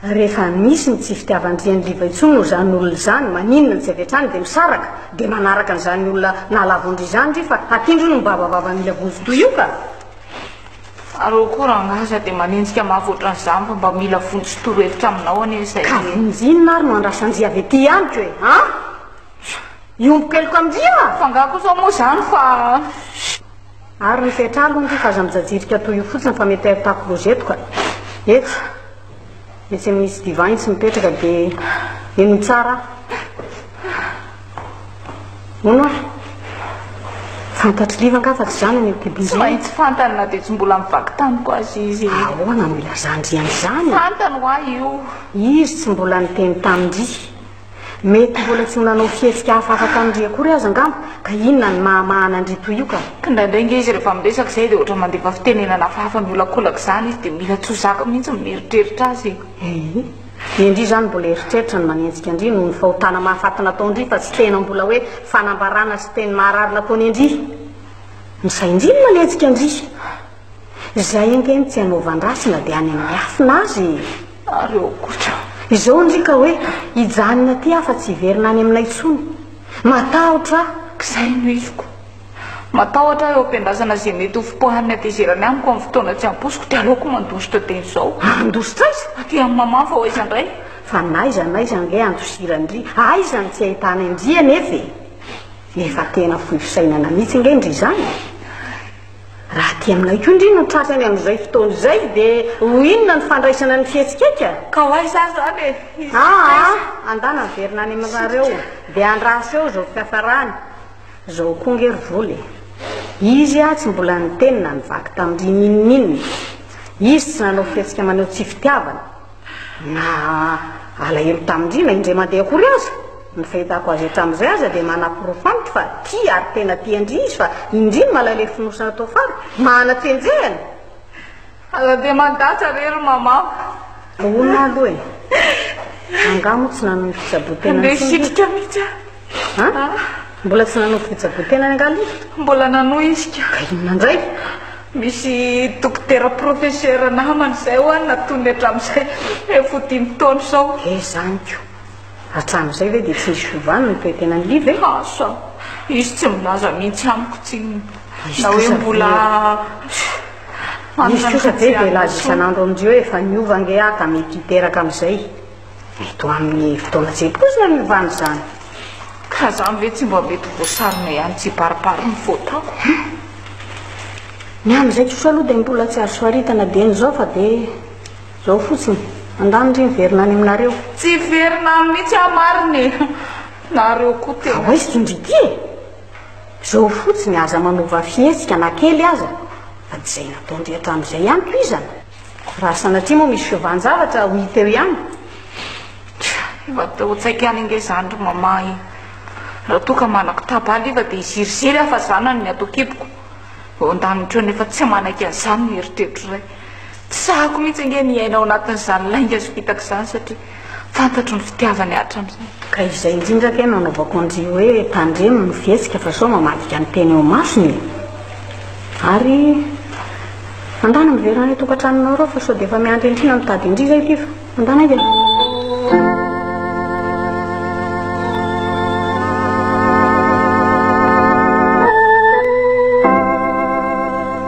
Speaker 4: Rehefa misy ny tsy fitiavan-dry an'i Liva intsony noho izany olona izany, maninona no tsy avy hatrany dia misaraka, dia manaraka an'izany olona nahalavo an-dry izany ndry fa aty ndry no mibavabava mila vonjy toy io ka?
Speaker 1: Aleo koa rangahy sady dia manenjika mafy ohatran'izany fa mba mila vonjy sy torohevitra aminao anie izay. Ka vonjy inona ary
Speaker 4: no andrasan-dry avy aty amiko e a! Hiomboko heloka amin-dry aho a! F'angaha kosa moa izany
Speaker 1: fa.
Speaker 4: Ary ry fetra ary hono ry fa aza mijajirika toy io fotsiny fa mety ahitako rosetoko a! Etsy. Izay misy divin tsy mipetraka de ino no tsara? Hono ary? Fantatr'i Liva angaha fa tsy izany an'io kibidy io? Tsy maintsy fantany na
Speaker 1: dia tsy mbola mivaky tany koa aza izy. Ahoana no ilazan-dry
Speaker 4: an'izany? Fantany ho'a io.
Speaker 1: Izy tsy mbola
Speaker 4: niteny tamin-dry. Mety mbola tsy ho nanao fihetsika hafa afa-kan'ndry akory aza angamba, ka inona ny mahamahana an-dry toy io ka? Kindraindray nge izy rehefa
Speaker 1: miresaka izay dia ohatra mandefa fitenenana hafahafa miolakolaka izany izy dia mila tsy ho zaka mihitsy ny mieritreritra azy e! Ehe, ny
Speaker 4: an-dry izany mbola eritreritra no manenjika an-dry noho ny fahotana mahafaty nataon-dry fa tsy tena mbola hoe fanambarana sy teny maharary nataony an-dry! Ny sain-dry no manenjika an-dry! Izay ange no tsy hanaovan-drasy na dia any amin'ny afina aza e! Ary okotra
Speaker 1: izao ndry ka hoe
Speaker 4: hijanona aty aho fa tsy hiverina any aminay intsony. Matahotra aho. K'izay no
Speaker 1: heviko. Matahotra aho eo am-piandrasana izay mety ho fipoahan'ny hatezerany amiko amin'ny fotoana tsy ampoiziko dia aleoko mandositra dia izao. Handositra aiza? Aty amin'i Maman fa ho aiza indray? Fa n'aiza
Speaker 4: n'aiza ange handosiran-dry. Aiza no tsy ahitanay an-dry anefa e? Efa tena fohy fisainana mihitsy ange ndry izany e? Raha aty aminay koa ndry no tratra any amin'izay fotoana izay dia ho inona ny fandraisana ny fihetsik'eka? Ka ho aiza ary
Speaker 1: izany e? Aa, andana
Speaker 4: miverina any aminareo dia andraso eo izao fiafarany. Izao koa ange ry Vola e! Izy aho tsy mbola niteny na nivaky tamin-dry n'inon'inona. Izy tsy nanao fihetsika maneho tsy fitiavana. Na alahelo tamin-drina indray mandeha akory aza, ny fahitako azy hatramin'izay aza dia manaporofo amiko fa tia ary tena tian-dry izy fa indrindra malay ilay fonosana tao fara, mahana fenjehana.
Speaker 1: Aza dia mandatra re ry Maman. Ahoana
Speaker 4: aloha e? Angaha moa tsy nanao ny fitsaboan-tena intsony ve? Andeha hisitrika mihitsy
Speaker 1: aho. An?
Speaker 4: Mbola tsy nanao fijabon-tenany angaha aloha? Mbola nanohy
Speaker 1: izy ka. Ka inona indray?
Speaker 4: Misy
Speaker 1: dokotera professeur namany izay ho'a natony hatramin'izay efa ho dimy taona izao. He izany ko!
Speaker 4: Hatramin'izay ve dia tsy nisy fiovana ny toe-tenan'i Ly ve? Asa!
Speaker 1: Izy tsy milaza mihitsy amiko tsinona na hoe mbola manana ny fihetseham-po.
Speaker 4: Izy kosa ve dia hilaza isan'andro amin'izay hoe efa niova ange aho ka mety hiteraka amin'izay? Eto amin'ny fotoana izay koa izany ny rano izany. Ka izany
Speaker 1: ve tsy mba mety voasarona ihany tsy hibaribary ny fotako?
Speaker 4: Ny amin'izay kosa aloha dia mbola tsy azo faritana dieny izao fa dia izao fotsiny. Andany ry miverina any aminareo. Tsy hiverina
Speaker 1: any mihitsy aho marina e. Nareo koa tena. Fa hoy indry ity e.
Speaker 4: Izao fotsiny aza manova fihetsika na kely aza fa tsy izay nataondry hatramin'izay ihany tohizana. Raha sanatria moa misy fiovanjavatra ho hita eo ihany?
Speaker 1: Iva te ho tsaiky any ange izany ry Mama e! Raha toa ka manako tabal iva dia hiziriziry aho fa zanany ny ato an-kiboko. Eo an-danitra eo nefa tsy manaiky an'izany ny eritreritra iray. Tsy sahako mihitsy ange ny hiaina ao anatin'izany lainga sy fitaka izany satria. Fantatro ny fitiavany hatramin'izay. Ka izay indrindra
Speaker 4: ve no anaovako an-dry hoe tandremo ny fihetsika fa sao mamadika ny teny eo imasony e! Ary andana miverina any an-tokantranonao ireo fa sao dia efa miandry an-dry na mitady an-dry izay ity fa andana ange.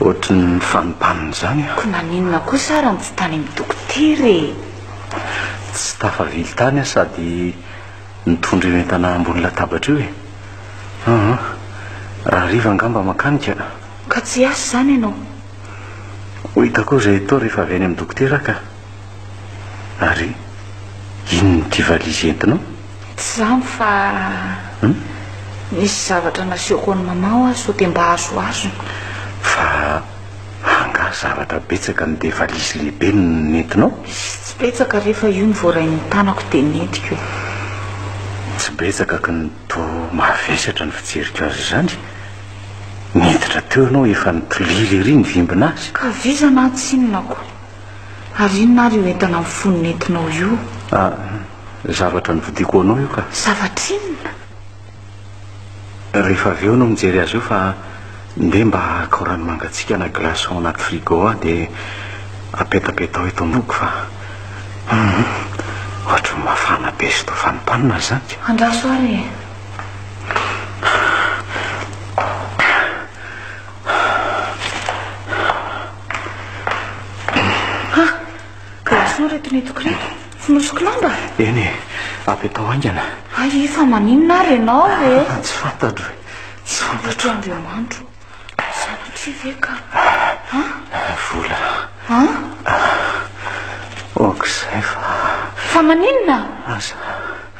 Speaker 2: Ohatry ny fanompana izany aho. Koa naninona kosa
Speaker 1: ary no tsy tany amin'ny dokotera e?
Speaker 2: Tsy tafavily tany aho sady nitondra io entana ambony latabatra io e. Aha, rahariva angamba mankany ka. Ka tsy hiasa
Speaker 1: izany ianao?
Speaker 2: Ho hitako eo izay atao rehefa avy any amin'ny dokotera aho ka. Ary inona ity valizy entinao? Tsy izany
Speaker 1: fa nisy zavatra nasehoko an'i Maman ho'a sao dia mba azo azony. Fa
Speaker 2: angaha zavatra betsaka no dia valizy lehibe no nentinao? Tsy betsaka
Speaker 1: re fa io no voaray ny tanako dia nentiko
Speaker 2: e. Tsy betsaka ka no toa mavesatra ny fijeriko azy izany. Niditra teo ianao efa nitolila ery ny vimbin'azy. Ka vizana aho tsinona
Speaker 1: ko. Ary inona ary io entana mifono nentinao io? Ah,
Speaker 2: zavatra novidiako ho anao io ka. Zavatra inona? Rehefa avy eo no mijery azy eo fa ndeha mba haka rano mangatsiaka na glaçon ao anaty frigo aho dia apetapetao eto am-boko fa hum, ohatran'ny mafana be sy toa fanimpanina izany ka. Andraso ary e.
Speaker 1: Ha! Ka intsony reto netiko reto. Fonosiko lamba? Eny e,
Speaker 2: avy atao haingana. Ay, fa maninona
Speaker 1: ary ianao e? Ah, tsy fantatro e.
Speaker 2: Tsy fantatro. Eto Andriamanitro.
Speaker 1: Sanatria ve ka? Ha?
Speaker 2: Vola. Ha? Ok, izay fa. Fa
Speaker 1: maninona? Aza.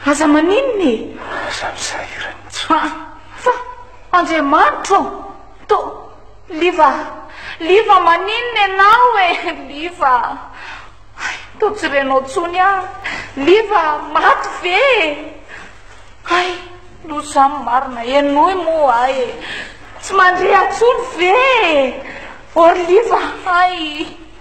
Speaker 1: Aza maninona e? Aza misahirana
Speaker 2: intsony. Fa
Speaker 1: Andriamanitro. To Liva! Liva maninona ianao e! Liva! Hay! Toa tsy renao intsony aho! Liva! Maty ve e! Hay! Loza izany marina! Henoy moa ahy e! Tsy mandre intsony ve e! Orliva! Hay!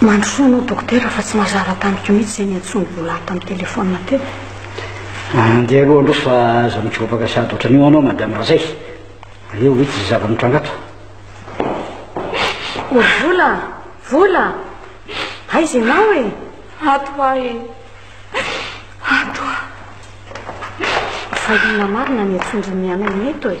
Speaker 1: Mandrosoa anao dokotera fa tsy mazava tamiko mihitsy izay niantsoan'i Bola tamin'ny telefaonina teo. Andeha
Speaker 3: aloha aloha fa aza mijobaka sady ohatran'io anao madame Razay. Aleo ho hitsy izay zava-mitranga ato.
Speaker 4: O Vola! Vola! Aiza ianao e? Ato hoa e.
Speaker 1: Ato hoa.
Speaker 4: Fa inona marina ny antsoindry ny anao eto e?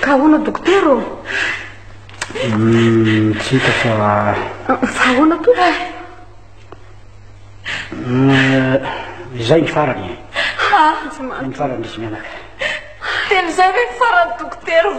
Speaker 4: Ka ahoana dokotera ô? Hmm, tsy hita
Speaker 3: fa
Speaker 4: Fa ahoana toa?
Speaker 3: Hmm, izay ny farany e. Ny farany izy mianaka. Teny
Speaker 1: izay ve ny farany dokotera ô?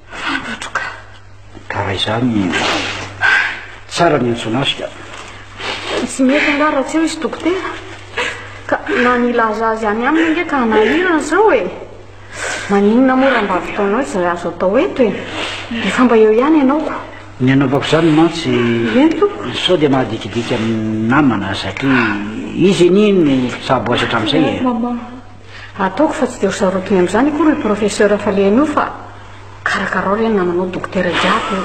Speaker 1: Fantatro ka. Ka raha
Speaker 3: izany tsara ny hiantsoana azy ka.
Speaker 4: Tsy mety angaha raha tsy eo izy dokotera? Ka na ny hilaza azy any aminy ange ka hanahirana izao e. Maninona moa raha mba avitaonao izay azo atao eto e. Efa mba eo ihany ianao ko. Ny anaovako izany
Speaker 3: mantsy
Speaker 4: sao dia
Speaker 3: mahadikidika ny namana satria izy anie no mpitsabo azy hatramin'izay e.
Speaker 1: Ataoko fa
Speaker 4: tsy dia ho sarotiny amin'izany akory ry Professeur fa le anio fa karakarao re ny namanao Dokotera jiaby io.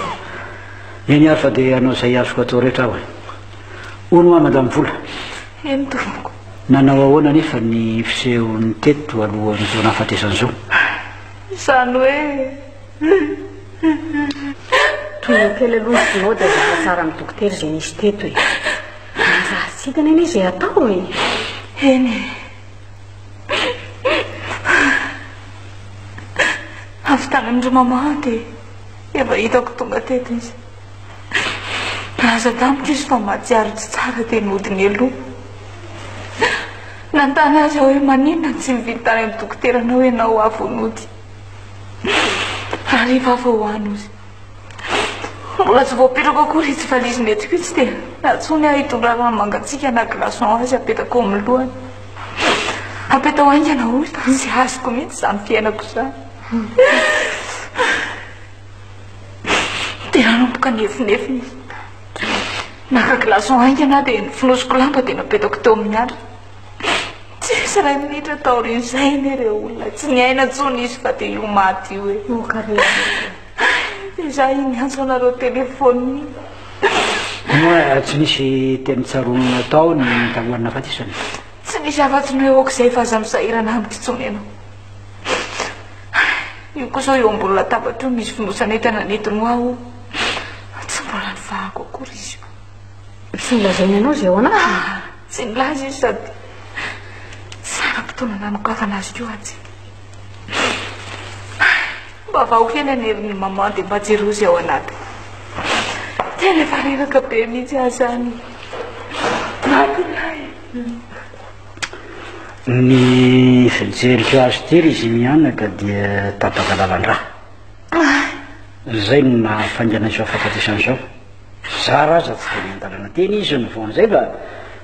Speaker 3: Eny ary fa dia hanao izay azoko atao rehetra aho e. Hono hoa Madame Vola? Eny tompoko.
Speaker 1: Nanao ahoana
Speaker 3: anefa ny fisehony teto alohan'ny vao nahafatesan'i Zo?
Speaker 1: Izany hoe
Speaker 4: Tohina kely aloha ny Synode izay hatsaran'ny Dokotera izay nisy teto e. Manjary tsy hitany anie izay atao e. Eny e.
Speaker 1: Avy tany amin-dry Mama aho dia efa hitako tonga teto izy. Nilaza tamiko izy fa mahatsiaro tsy tsara dia nody ny aloha. Nanontany azy aho hoe maninona no tsy nividy tany amin'ny dokoteranao ianao ho avy ho nody. Raha rehefa avy ho any hozy. Mbola tsy voapetrako akory itsy valiziny etsiko itsy dia natsoiny aho hitondra rano mangatsiaka na glaçon azy apetako eo amin'ny lohany. Apetao haingana hoy fa tsy azoko mihitsy izany fiainako izany. Dia nanomboka nefinefiny izy. Naka glaçon haingana dia nifonosiko lamba dia napetako teo amin'ny andriny. Tsy nisy iray minitra taorian'izay anie ireo olona tsy niaina intsony izy fa dia io maty io e. Oh, dia za iny niantso anareo telefaonina.
Speaker 3: Moa tsy nisy teny tsaroana natao ny talohan'ny nafatesana? Tsy nisy afa-tsy
Speaker 1: ny hoe aok'izay fa aza misahirana amiko intsony ianao. Io koa izao eo ambony latabatra io misy fonosan'entana nentiny ho aho. Tsy mbola nifahako akory izy io. Tsy nilazaina
Speaker 4: ianao izay ao anatiny? Tsy nilaza izy
Speaker 1: sady tsara fotoana nanokavan azy koa atsy. Mba vao hena ny herin'ny maman dia mba jereo izay ao anaty. Tena efa reraka be mihitsy aho izany. Matinay.
Speaker 3: Ny fijeriko azy ity ry Zimianaka dia tapaka lalan-drà. Izay no nahafaingana izao fahafatesana izao. Mpizara aza tsy dia miandalana teny izy no vao amin'izay mba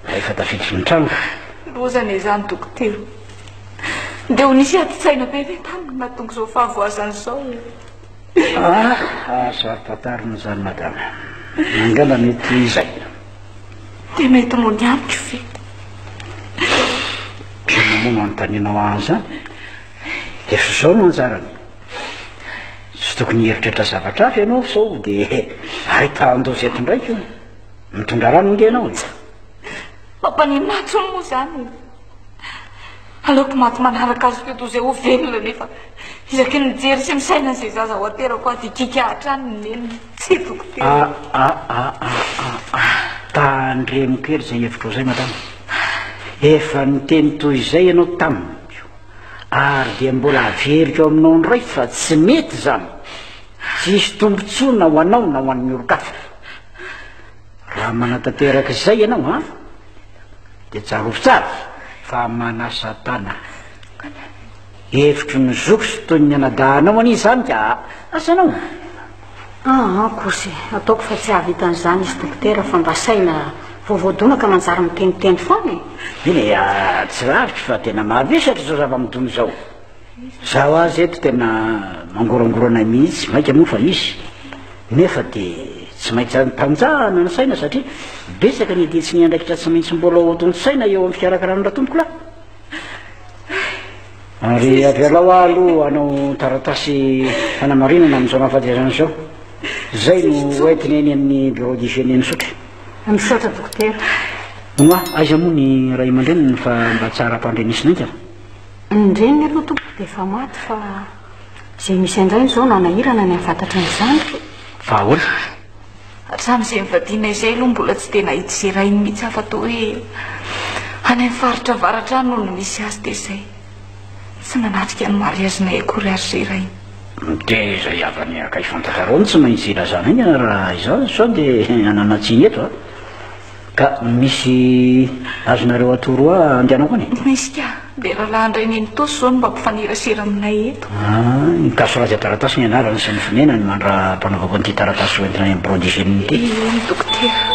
Speaker 3: rehefa tafiditra ny trano. Loza anie izany
Speaker 1: dokotera. Dia ho nisy adin-tsaina be ve taminy nahatonga izao fahavoazany izao e? Ah,
Speaker 3: aza ampantarina izany madama. Angamba mety izay.
Speaker 1: Dia mety mody amiko ve?
Speaker 3: Inona moa no anontanianao ahy an'izany? Efa izao no anjarany. Tsy tokony hieritreritra zavatra hafa ianao sao dia ahitahan-doza eto indray koa. Mitondra rano nge ianao e.
Speaker 1: Mampaneho maty hono moa izany. Aleoko maty manaraka azy teo toy izay ho velona nefa isaky ny mijery sy misaina izay zaza ho aterako aho dia kika hatrany ny nenina. Tsy dokotera. Ah, ah, ah, ah, ah, ah.
Speaker 3: Tandremo kely izay hevitrao izay, madama. Efa niteny toy izay ianao tamiko. Ary dia mbola averiko aminao indray fa tsy mety izany, tsy hisy tombontsoa na ho anao na ho an'ny olon-kafa. Raha manatanteraka izay ianao, ha? Dia tsarovy tsara fa manasa tana. Hevitry ny zoky sy toy ny anadahinao anie izany ka, asanao. Ah
Speaker 4: ah kosy, ataoko fa tsy hahavita an'izany izy dokotera fa mba saina vao voadona ka manjary miteniteny foana e! Eny e,
Speaker 3: tsy lavitra fa tena mavesatra izao zava-midona izao. Izaho aza eto tena mangorangorana mihitsy, mainka moa fa misy, nefa dia tsy maintsy antanjahana ny saina satria betsaka ny dian-tsinay andraikitra tsy maintsy mbola hotontosaina eo amin'ny fikarakarana ny ratompokolahy. Ary avelao aho aloha hanao taratasy fanamarinana amin'izao nahafateazana anao izao. Izay no hoentiny eny amin'ny bureau d'hygiène misaotra. Misaotra
Speaker 4: dokotera. Moa
Speaker 3: aiza moa ny ray aman-dreniny fa mba tsara ampandrenesina haingana? Ny
Speaker 4: reniny aloha tompoko dia efa maty fa izay misy an-drainy
Speaker 3: izao
Speaker 4: nanahirana ny hahafantatry ny zandriny. Fa ahoana?
Speaker 1: Hatramin'izay nivadiana izay aloha mbola tsy dia nahita izay rainy mihitsy aho fa toa hoe any amin'ny faritra avaratra any no nisy azy dia izay. Tsy nanatrika ny mariazinay akory ary izay rainy. Dia izay
Speaker 3: havany akaiky fantatrareo no tsy maintsy ilazanay ny raha izany sao dia hanana tsiny eto an! Ka misy azonareo atoro hoa andianako any? Misy ka, dia
Speaker 1: rahalahy indray nenitosa izao no mba mpifanerasera aminay eto. Ah, ny gasy Raja
Speaker 3: Taratasy ny anarany sy ny fonenany mandra-panaovako an'ity taratasy hoentina any amin'ny Bureau d'hygiène ity. Ie, ny dokotera.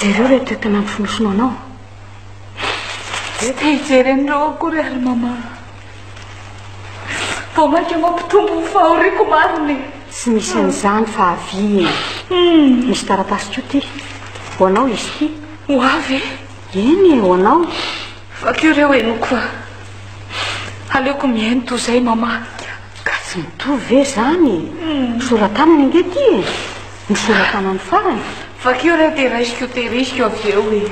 Speaker 4: Jereo ilay toetra nampifonosonao anao. Dia
Speaker 1: te hijery an'ireo akory ary mama. Vao mainka mampitombo ny fahoriako marina e. Tsy misy
Speaker 4: an'izany fa aviana. Hmm. Misy taratasy koa ty. Ho anao izy ty. Ho avy e.
Speaker 1: Eny e, ho
Speaker 4: anao. Vakio ireo
Speaker 1: henoko fa. Aleoko mihaino toy izay mama. Ka tsy
Speaker 4: mitovy ve izany? Hmm. Soratanana ange ty e. Ny sora-tanany farany? Vakio re dia
Speaker 1: raisiko tehiriziko avy eo e.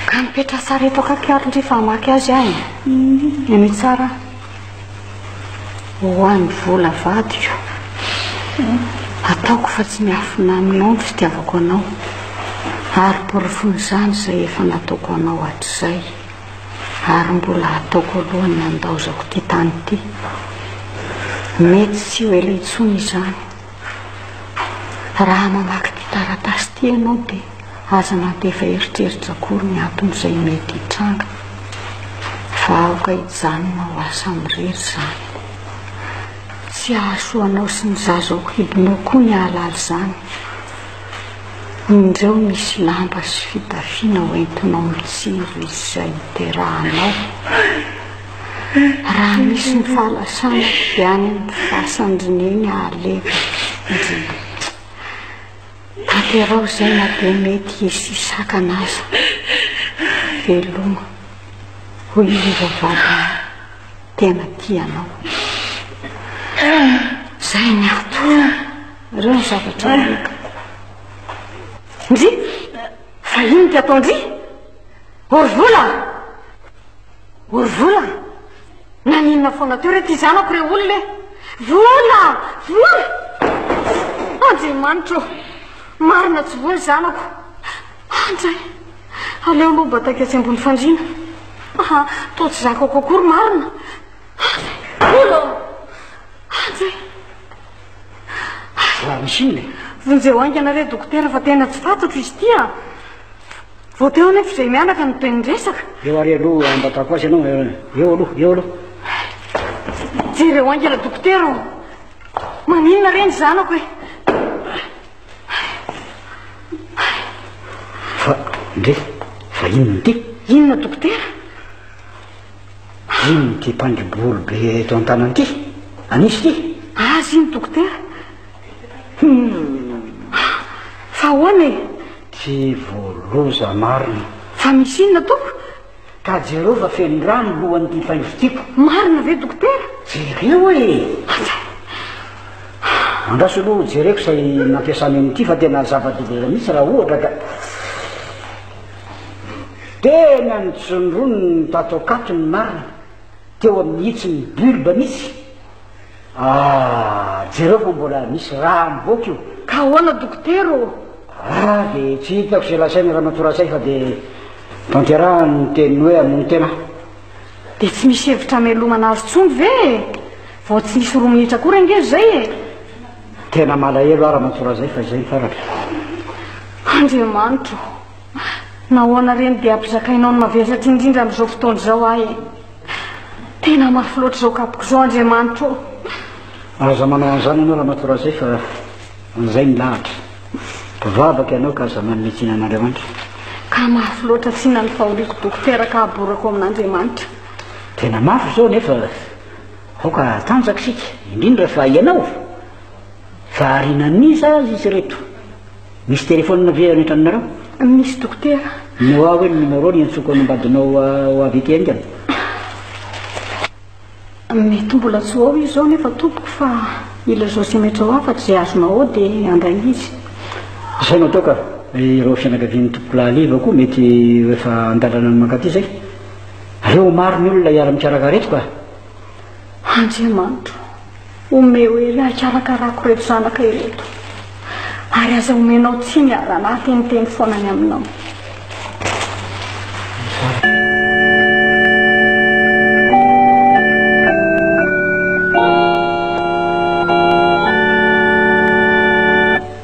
Speaker 4: Ka mipetra sary eto akaiky ary ndry fa hamaky azy ahy. Eny tsara. Ho an'ny vola vadiko. Ataoko fa tsy miafina aminao ny fitiavako anao. Ary porofon'izany izay efa nataoko anao hatrizay. ary mbola ataoko alohan'ny handaozako ity tany ity. Mety tsy ho ela intsony izany. Raha mamaky ity taratasy ity ianao dia aza mandefa eritreritra akory ny anton'izay mety hitranga fa aoka hijanona ho asa mirery izany. Tsy hahasoa anao sy ny zazao hidinao koa ny hahalala izany. Indreo misy lamba sy fitafiana ho entinao mitsiry izay hiterahanao. Raha misy ny fahalasana dia any amin'ny fasan-dry neny alefa ndry. Tanterao izay na dia mety hisy sakana aza. Veloma. Hoy i Riva vadinao. Tena tia anao. Izay ny antony. Ireo ny zavatra omeko. Ndry! Fa iny ty atao ndry! Orvola! Orvola! Naninona foana teo re ty zanako re olona e! Vola! Vola! Andriamanitra Marina tsy voa zanako. Andray! Aleo aloha bataika tsy ambony fandriana. Aha, toa tsy zakako akory marina. Vola! Atsy
Speaker 3: e! Ary raha misy inona e? Vonjeo haingana
Speaker 4: re dokotera fa tena tsy fantatro izy ity a! Vao teo anefa izay mianaka no be niresaka. Eo ary aloha
Speaker 3: ambatako azy ianao, eo aloha, eo aloha. Jereo
Speaker 4: haingana dokotera o! Maninona re ny zanako e?
Speaker 3: Fa, ndre, fa inona ity? Inona dokotera? Inona ity mpangibolo be eto an-tanana ity? Anisy ity? Azy iny dokotera.
Speaker 4: Hmm. Fa ahoana e? Tsy
Speaker 3: voaloza marina. Fa misy inona
Speaker 4: toko? Ka jereo
Speaker 3: fa feno rano lohan'ity faivo tiko. Marina ve dokotera?
Speaker 4: Jereo e.
Speaker 3: Aza. Andraso aloha jereko izay nampiasany an'ity fa tena zava-doza mihitsy raha ohatra ka. Tena nitsondroniny tato akato ny marina teo amin'ny hitsin'ny bulbe mihitsy. Ah, jereo fa mbola misy rà mivoaka io. Ka ahoana dokotera
Speaker 4: ô? Ah, dia
Speaker 3: tsy hitako izay lazain'i Ramatoa Ratsay fa dia tanterahany ny teniny hoe hamono tena aho. Dia
Speaker 4: tsy misy hevitra hamelomana azy intsony ve e? Vao tsy nisy roa minitra akory ange izay e! Tena
Speaker 3: malahelo aho ramatoa raha zay fa izay ny farany. Andriamanitra
Speaker 4: ô! Nahoana re no dia ampizakainao ny mavesatra indrindra amin'izao fotoana izao ahy e? Tena mafy loatra izao kapoko izao Andriamanitra ô!
Speaker 3: Aza manao an'izany ianao ramatoa raha zay fa an'izay ny lahatra. Mpivavaka ianao ka aza manome tsiny an'Andriamanitra. Ka
Speaker 4: mafy loatra tsina ny fahoriako dokotera ka aborako amin'Andriamanitra. Tena
Speaker 3: mafy izao nefa. Aoka hatanjaka isika, indrindra fa ianao. Fa arinan'iza aza izy ireto? Misy telefaonina ve any an-tranonareo? Misy dokotera.
Speaker 4: Noa hoe ny numéro
Speaker 3: ny iantsoako any ambadinao ho avy ety haingana.
Speaker 4: Mety mbola tsy ho ao izy izao nefa tompoko fa ilay Zosimètre ho afaka izay azonao ao dia handray izy. Izay no atao
Speaker 3: ka. Ireo fianakavian'ny tompokolahy Liva koa mety ho efa an-dalana ny mankaty izay. Aleo ho maro ny olona hiara-mikarakara eto ka. Andriamanitro,
Speaker 4: omeo hery ahy hikarakarako ireto zanaka ireto, ary aza omenao tsiny aho raha nahateniteny foana ny aminao.